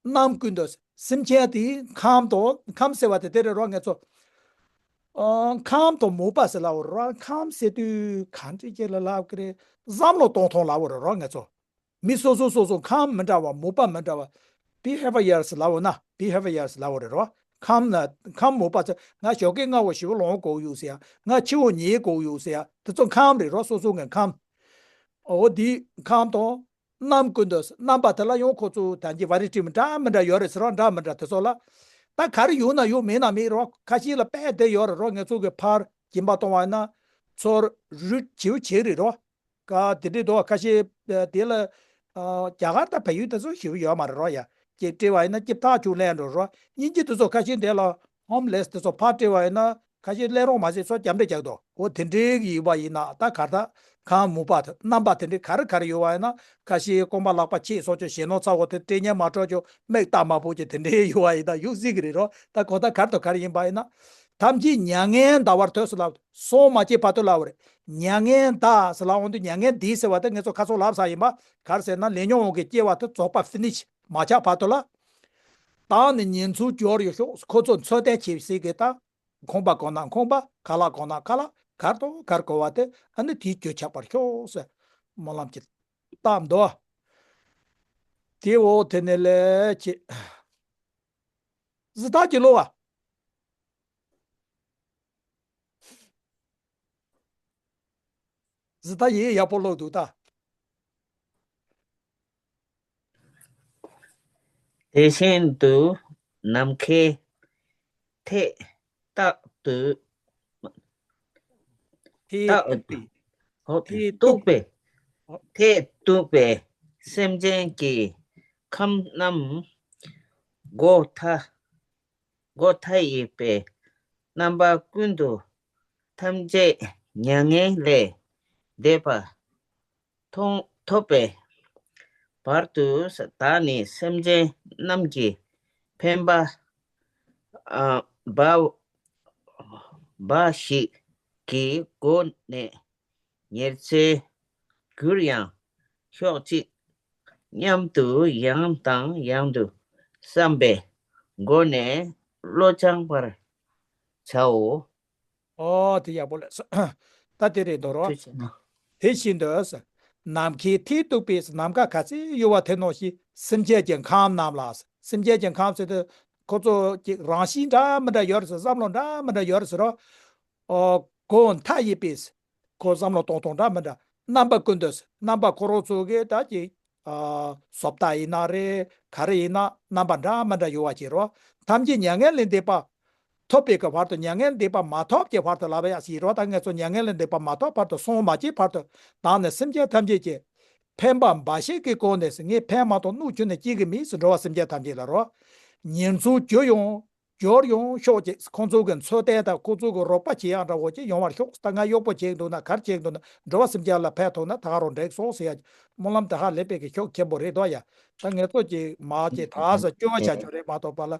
རྣམས་ཀུན་ཏུ་སེམས་ཅན་དེ་ཁམས་དང་ཁམས་སེལ་བ་དེ་དེར་རོ་ངས་ཚོ། ཁམས་དང་མུག་པ་སེལ་ལ་བོར་བ་ཁམས་སེལ་དུས་གང་དྲི་སྐྱེ་ལ་ལ་ཀི་རེ་བསམ་ལོ་སྟོང་ཐོང་ལ་བོར་རོ་ངས་ཚོ། མི་སོ་སོ་སོ་སོ་ཁམས་མི་འདྲ་བ་མུག་པ་མི་འདྲ་བ Behaviors ལ་བོར་ན Behaviors ལ་བོར་རེ་རོ། ཁམས་ཁམས་མུག་པ་ཚོ་ང་ཞོག་ཀེ་ང་བོ་བཞི་བོ་ལོང་གོག་ཡུག་སེ་ཡ་ང་ཁྱི་བོ་ཉེས་གོག་ཡུག་སེ་ཡ་དེ་ཚོ་ཁམས་རེ་རོ་སོ་སོ་ངས་ཁམས། འོ་དེ་ཁམས་དང་རྣམས་ཀུན་ཏུ། རྣམ་པ་དེ་ལ་ཡང་ཁོ་ཚོའི་དོན་གྱི་བ་རི་བྲིས་མི་འདྲ་མི་འདྲ་ཡོད་རེད་ཟེར་བ་འདྲ་མི་འདྲ་དེ་ཚོ་ལ། ད་ག་རེ་ཡོད་ན་ཡོད་མེད་ན་མེད་རོགས་ཁ་ཤིག་ལ་དཔེ་དེ་ཡོད་རེད་རོགས་ངེད་ཚོ་གི་ཕར་གྱིན་པ་གཏོང་བ་ཡིན་ན། ཚོར་རུས་བྱེའུ་བྱེད་རེད་རོགས། ཀ་དེ་འདྲའི་དོག་ཁ་ཤིག་དེ་ལ། རྒྱ་གར་དང་བལ་ཡུལ་དེ་ཚོ་ཞེས་པ་ཡོད་མ་རེད་རོགས་ཡ། ཀྱིས་བྲིས་བ་ཡིན་ན་སྐྱིབས་ཐག་ཆུ་ལེན་འགྲོ་རོགས་སྙིང་རྗེ་དེ་ཚོ་ཁ་ཤིག་འདི་ལ་ཧོམ་ལེས་དེ་ཚོ་ཕར་བཀྲལ་བ་ཡིན་ན་ཁ་ཤས་ཀླད་རོང་མ་བྱས་ཚོ་རྒྱབ་འགྲེལ་རྒྱག་དོ། ཨོ་དེ་འདྲའི་ཡིག་པ་ཡིན་ན་ད་གར་ད་གང་མུ་པ་རྣམ་པ་དེ་འདྲའི་ག་རེ་ག་རེ་ཡོད་བ་ཡིན་ན་ཁ་ཤས་རྐོང་པ་ལག་པ་ཁྱེད་སོགས་ཀྱི་ཞེ་ནོར་ཚ་བོ་དེ་སྤྲེལ་གཉེར་མ་གྲོགས་ཀྱི་མིག་ལྟག་མ་བོ་ཀྱི་དེ་འདྲའི་ཡོད་བ་ཡིན་ན་ཡུག་གཟིག་གི་རེད་རོ་ད་གོ་ད་གར་ད་གར་ཡིན་པ་ཡིན་ན་ཐམས་ཅད་མྱ་ངན་འདའ་བར་ཐོས་སུ་ལབ་སོང་མ་སྐྱེས་ཕ་ཐོས་ལབ་རེད་མྱ་ངན་འདའ་ཟེར་ལ་འོང་དུས་མྱ་ངན་འདས་ཟེར་བ་དེ་ངེད་ཚོ་ཁ་ཚོགས་ལབ་ས་ཡིན་པ་གར་ཟེར་ན་ལས་ཉོག་འོང་གི་སྐྱེ་བ་དེ་རྫོགས་པ finish། མ་ཆགས་བར་དུ་ལ་དྭགས་ནས་ཉེན་འཚོལ་སྐྱོར་ཡོད་ཕྱོགས་ཁོ་ཚོ་འཚོལ་བསྡད་བྱེད་སྲིད་སྐད་དང། ཁོང་པ་གང་ན་ཁོང་པ་ག་ལ་གང་ན་ག་ལ་གར་དང་གར་གོ་བ་དེ་ཨ་ནི་དེའི་གྱོད་ཆགས་པར་ཤོག་ཟེར་སྨོན་ལམ་གྱིས་བཏབ་མདོག་དེ་འོ་དེ་ནས་ལས་བྱེད་བཟི་ཐག་གི་ལོ་བ། བཟི་ཐག་ཡིག་ཡག་པོ་ཀློག་འདུག་ད། དེ་བཞིན་དུ་ནམ་མཁའི་མཐས་རྟག་ཏུ་མཐས་གཏུགས་པའི་མཐས་གཏུགས་པའི་མཐས་གཏུགས་པའི་སེམས་ཅན་གྱི་ཁམས་རྣམས་སྒོ་མཐའ་སྒོ་མཐའ་ཡས་པའི་རྣམ་པ་ཀུན་ཏུ་ཐམས་ཅད་མྱ་ངན་ལས་འདས་པ་མཐོང་ཐོབ་པའི་བར་དུ་བདག་ནི་སེམས་ཅན་རྣམས་ཀྱི་ཕན་པ་འབའ་ཞིག་གི་སྒོ་ནས་ཉེར་འཚེའི་རྒྱུར་ཡང་ཤོག་ཅིག་སྙམ་དུ་ཡང་དང་ཡང་དུ་བསམ་པའི་སྒོ་ནས་བློ་སྦྱང་བར་བྱའོ། ཨོ་དེ་ཡག་པོ་ལ་སོ། ད་དེ་རེད་དོ། ཅེས་བྱས་ན། དེ་བཞིན་དུ། ནམ་མཁའི་མཐིལ་གཏུགས་པའི་ནམ་མཁའ་ག་ཚད་གཡོ་བ་དེ་ནོ་ཞེས་སེམས་ཅན་གྱི་ཁམས་རྣམས་ལ། སེམས་ཅན་གྱི་ཁམས་སུ། ཁོ་ཚོ་ཀྱི་རང་གཤིས་འདྲ་མི་འདྲ་ཡོད་རེད། བསམ་བློ་འདྲ་མི་འདྲ་ཡོད་རེད། ཁོ་བོ་མཐའ་ཡས་པས། ཁོ་བསམ་བློ་གཏོང་སྟངས་འདྲ་མི་འདྲ། རྣམ་པ་ཀུན་ཏུ། རྣམ་པ་ཁོ་རང་ཚོ་གི་དག་གི། སོ་ལྟ་ཡིན་ན་རེད། ག་རེ་ཡིན་ན་རྣམ་པ་འདྲ་མི་འདྲ་ཡོད་བ་གྱིས་རོ། ཐམས་ཅད་མྱ་ངན་ལས་འདས་པ། ཐོབ་པའི་ཀྱི་བར་དུ་མྱ་ངན་འདས་པ་མ་ཐོབ་ཀྱི་བར་དུ་ལ་བ་ཡང་ཞེས་རོ་དང་ངེས་སོ་མྱ་ངན་ལས་འདས་པ་མ་ཐོབ་བར་དུ་སོང་མ་སྐྱེས་བར་དུ་དང་ནི་སེམས་ཅན་ཐམས་ཅད་ཀྱི། ཕན་པ་འབའ་ཞིག་གིས་བཀོལ་ནས་སུ་ངས་ཕན་མ་ཐོག་སྣུག་ཁྱུ་ནས་སྐྱེས་ཀྱི་མིས་སུ་འགྲོ་བ་སེམས་ཅན་ཐམས་ཅད་ལ་རོ། ཉེར་འཚོའི་རྒྱུ་ཡོང། རྒྱུར་ཡོང་ཤོག་ཅིག་ཁོ་ཚོ་གི་འཚོལ་ཏན་དང་ཁོ་ཚོ་གི་རོགས་པ་བྱེད་ཡང་འདྲ་བོ་ཅིག་ཡོང་བར་ཤོག་ད་ང་གཡོག་པོ་བྱེད་འདུག་ན་གར་བྱེད་འདུག་ན་འགྲོ་བ་སེམས་ཅན་ལ་ཕན་ཐོག་ན་ད་རུང་འགྲིག་སོང་ཟེར་ཡ། སྨོན་ལམ་དེ་ཧ་ལས་པའི་གི་ཤོག་མཁན་པོ་རེད་འདོད་ཡ། ད་ངས་ཚོ་ཅིག་མ་ཅིག་ད་ས་སྐྱོ་བ་བྱ་རྒྱུ་རེད་མ་ཐོག་པ་ལ་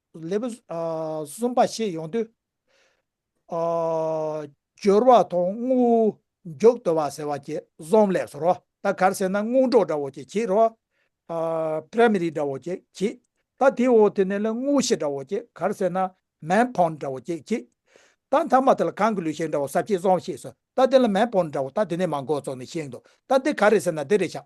ལེ་བུ། གསུམ་པ་ཞེས་ཡོང་དུས། སྦྱོར་བ་དང་དངོས། མགྱོགས་དོར་བ་ཟེར་བ་གྱི་གཟོང་ལས་སོ། ད་གར་ཟེར་ན་སྔོན་འགྲོ་འདྲ་བོ་ཅིག་གྱིས་རོ། Primary། འདྲ་བོ་ཅིག་གྱིས། ད་དེའི་འོག་དེ་ནས་ལ་དངོས་གཞི་འདྲ་བོ་ཅིག་གར་ཟེར་ན Man Porn འདྲ་བོ་ཅིག་གྱིས། ད་མཐའ་མ་དེ་ལ་གང་གི་ལུས་ཤེག་འདྲ་བོ་ཟབ་ཆའི་གཟོང་ཞེས་སོ། ད་དེ་ལ Man Porn འདྲ་བོ་ད་དེ་ནས་མང་གོ་ཚོགས་ནས་ཤེག་འདུག་ད་དེ་ག་རེ་ཟེར་ན་དེ་རེད་ཤག།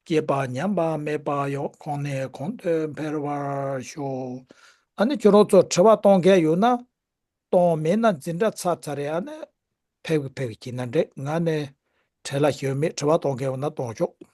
སྐྱེས་པ་ཉམས་པ་མེད་པ་ཡོང་གོང་ནས་གོང་དུ་འཕེལ་བར་ཤོག་ཨ་ནི་ཁྱོད་རང་ཚོར་དྲི་བ་གཏོང་མཁན་ཡོད་ན་གཏོང་མེད་ན་འཛིན་གྲྭ་ཚར་ཚར་རེ་ཨ་ནི་ཕེབས་ཕེབས་ཀྱིས་ན་འདྲེ་ང་ནི་བྲེལ་ལ་ཞོན་མེད་དྲི་བ་གཏོང་མཁན་ཡོད་ན་གཏོང་ཆོག།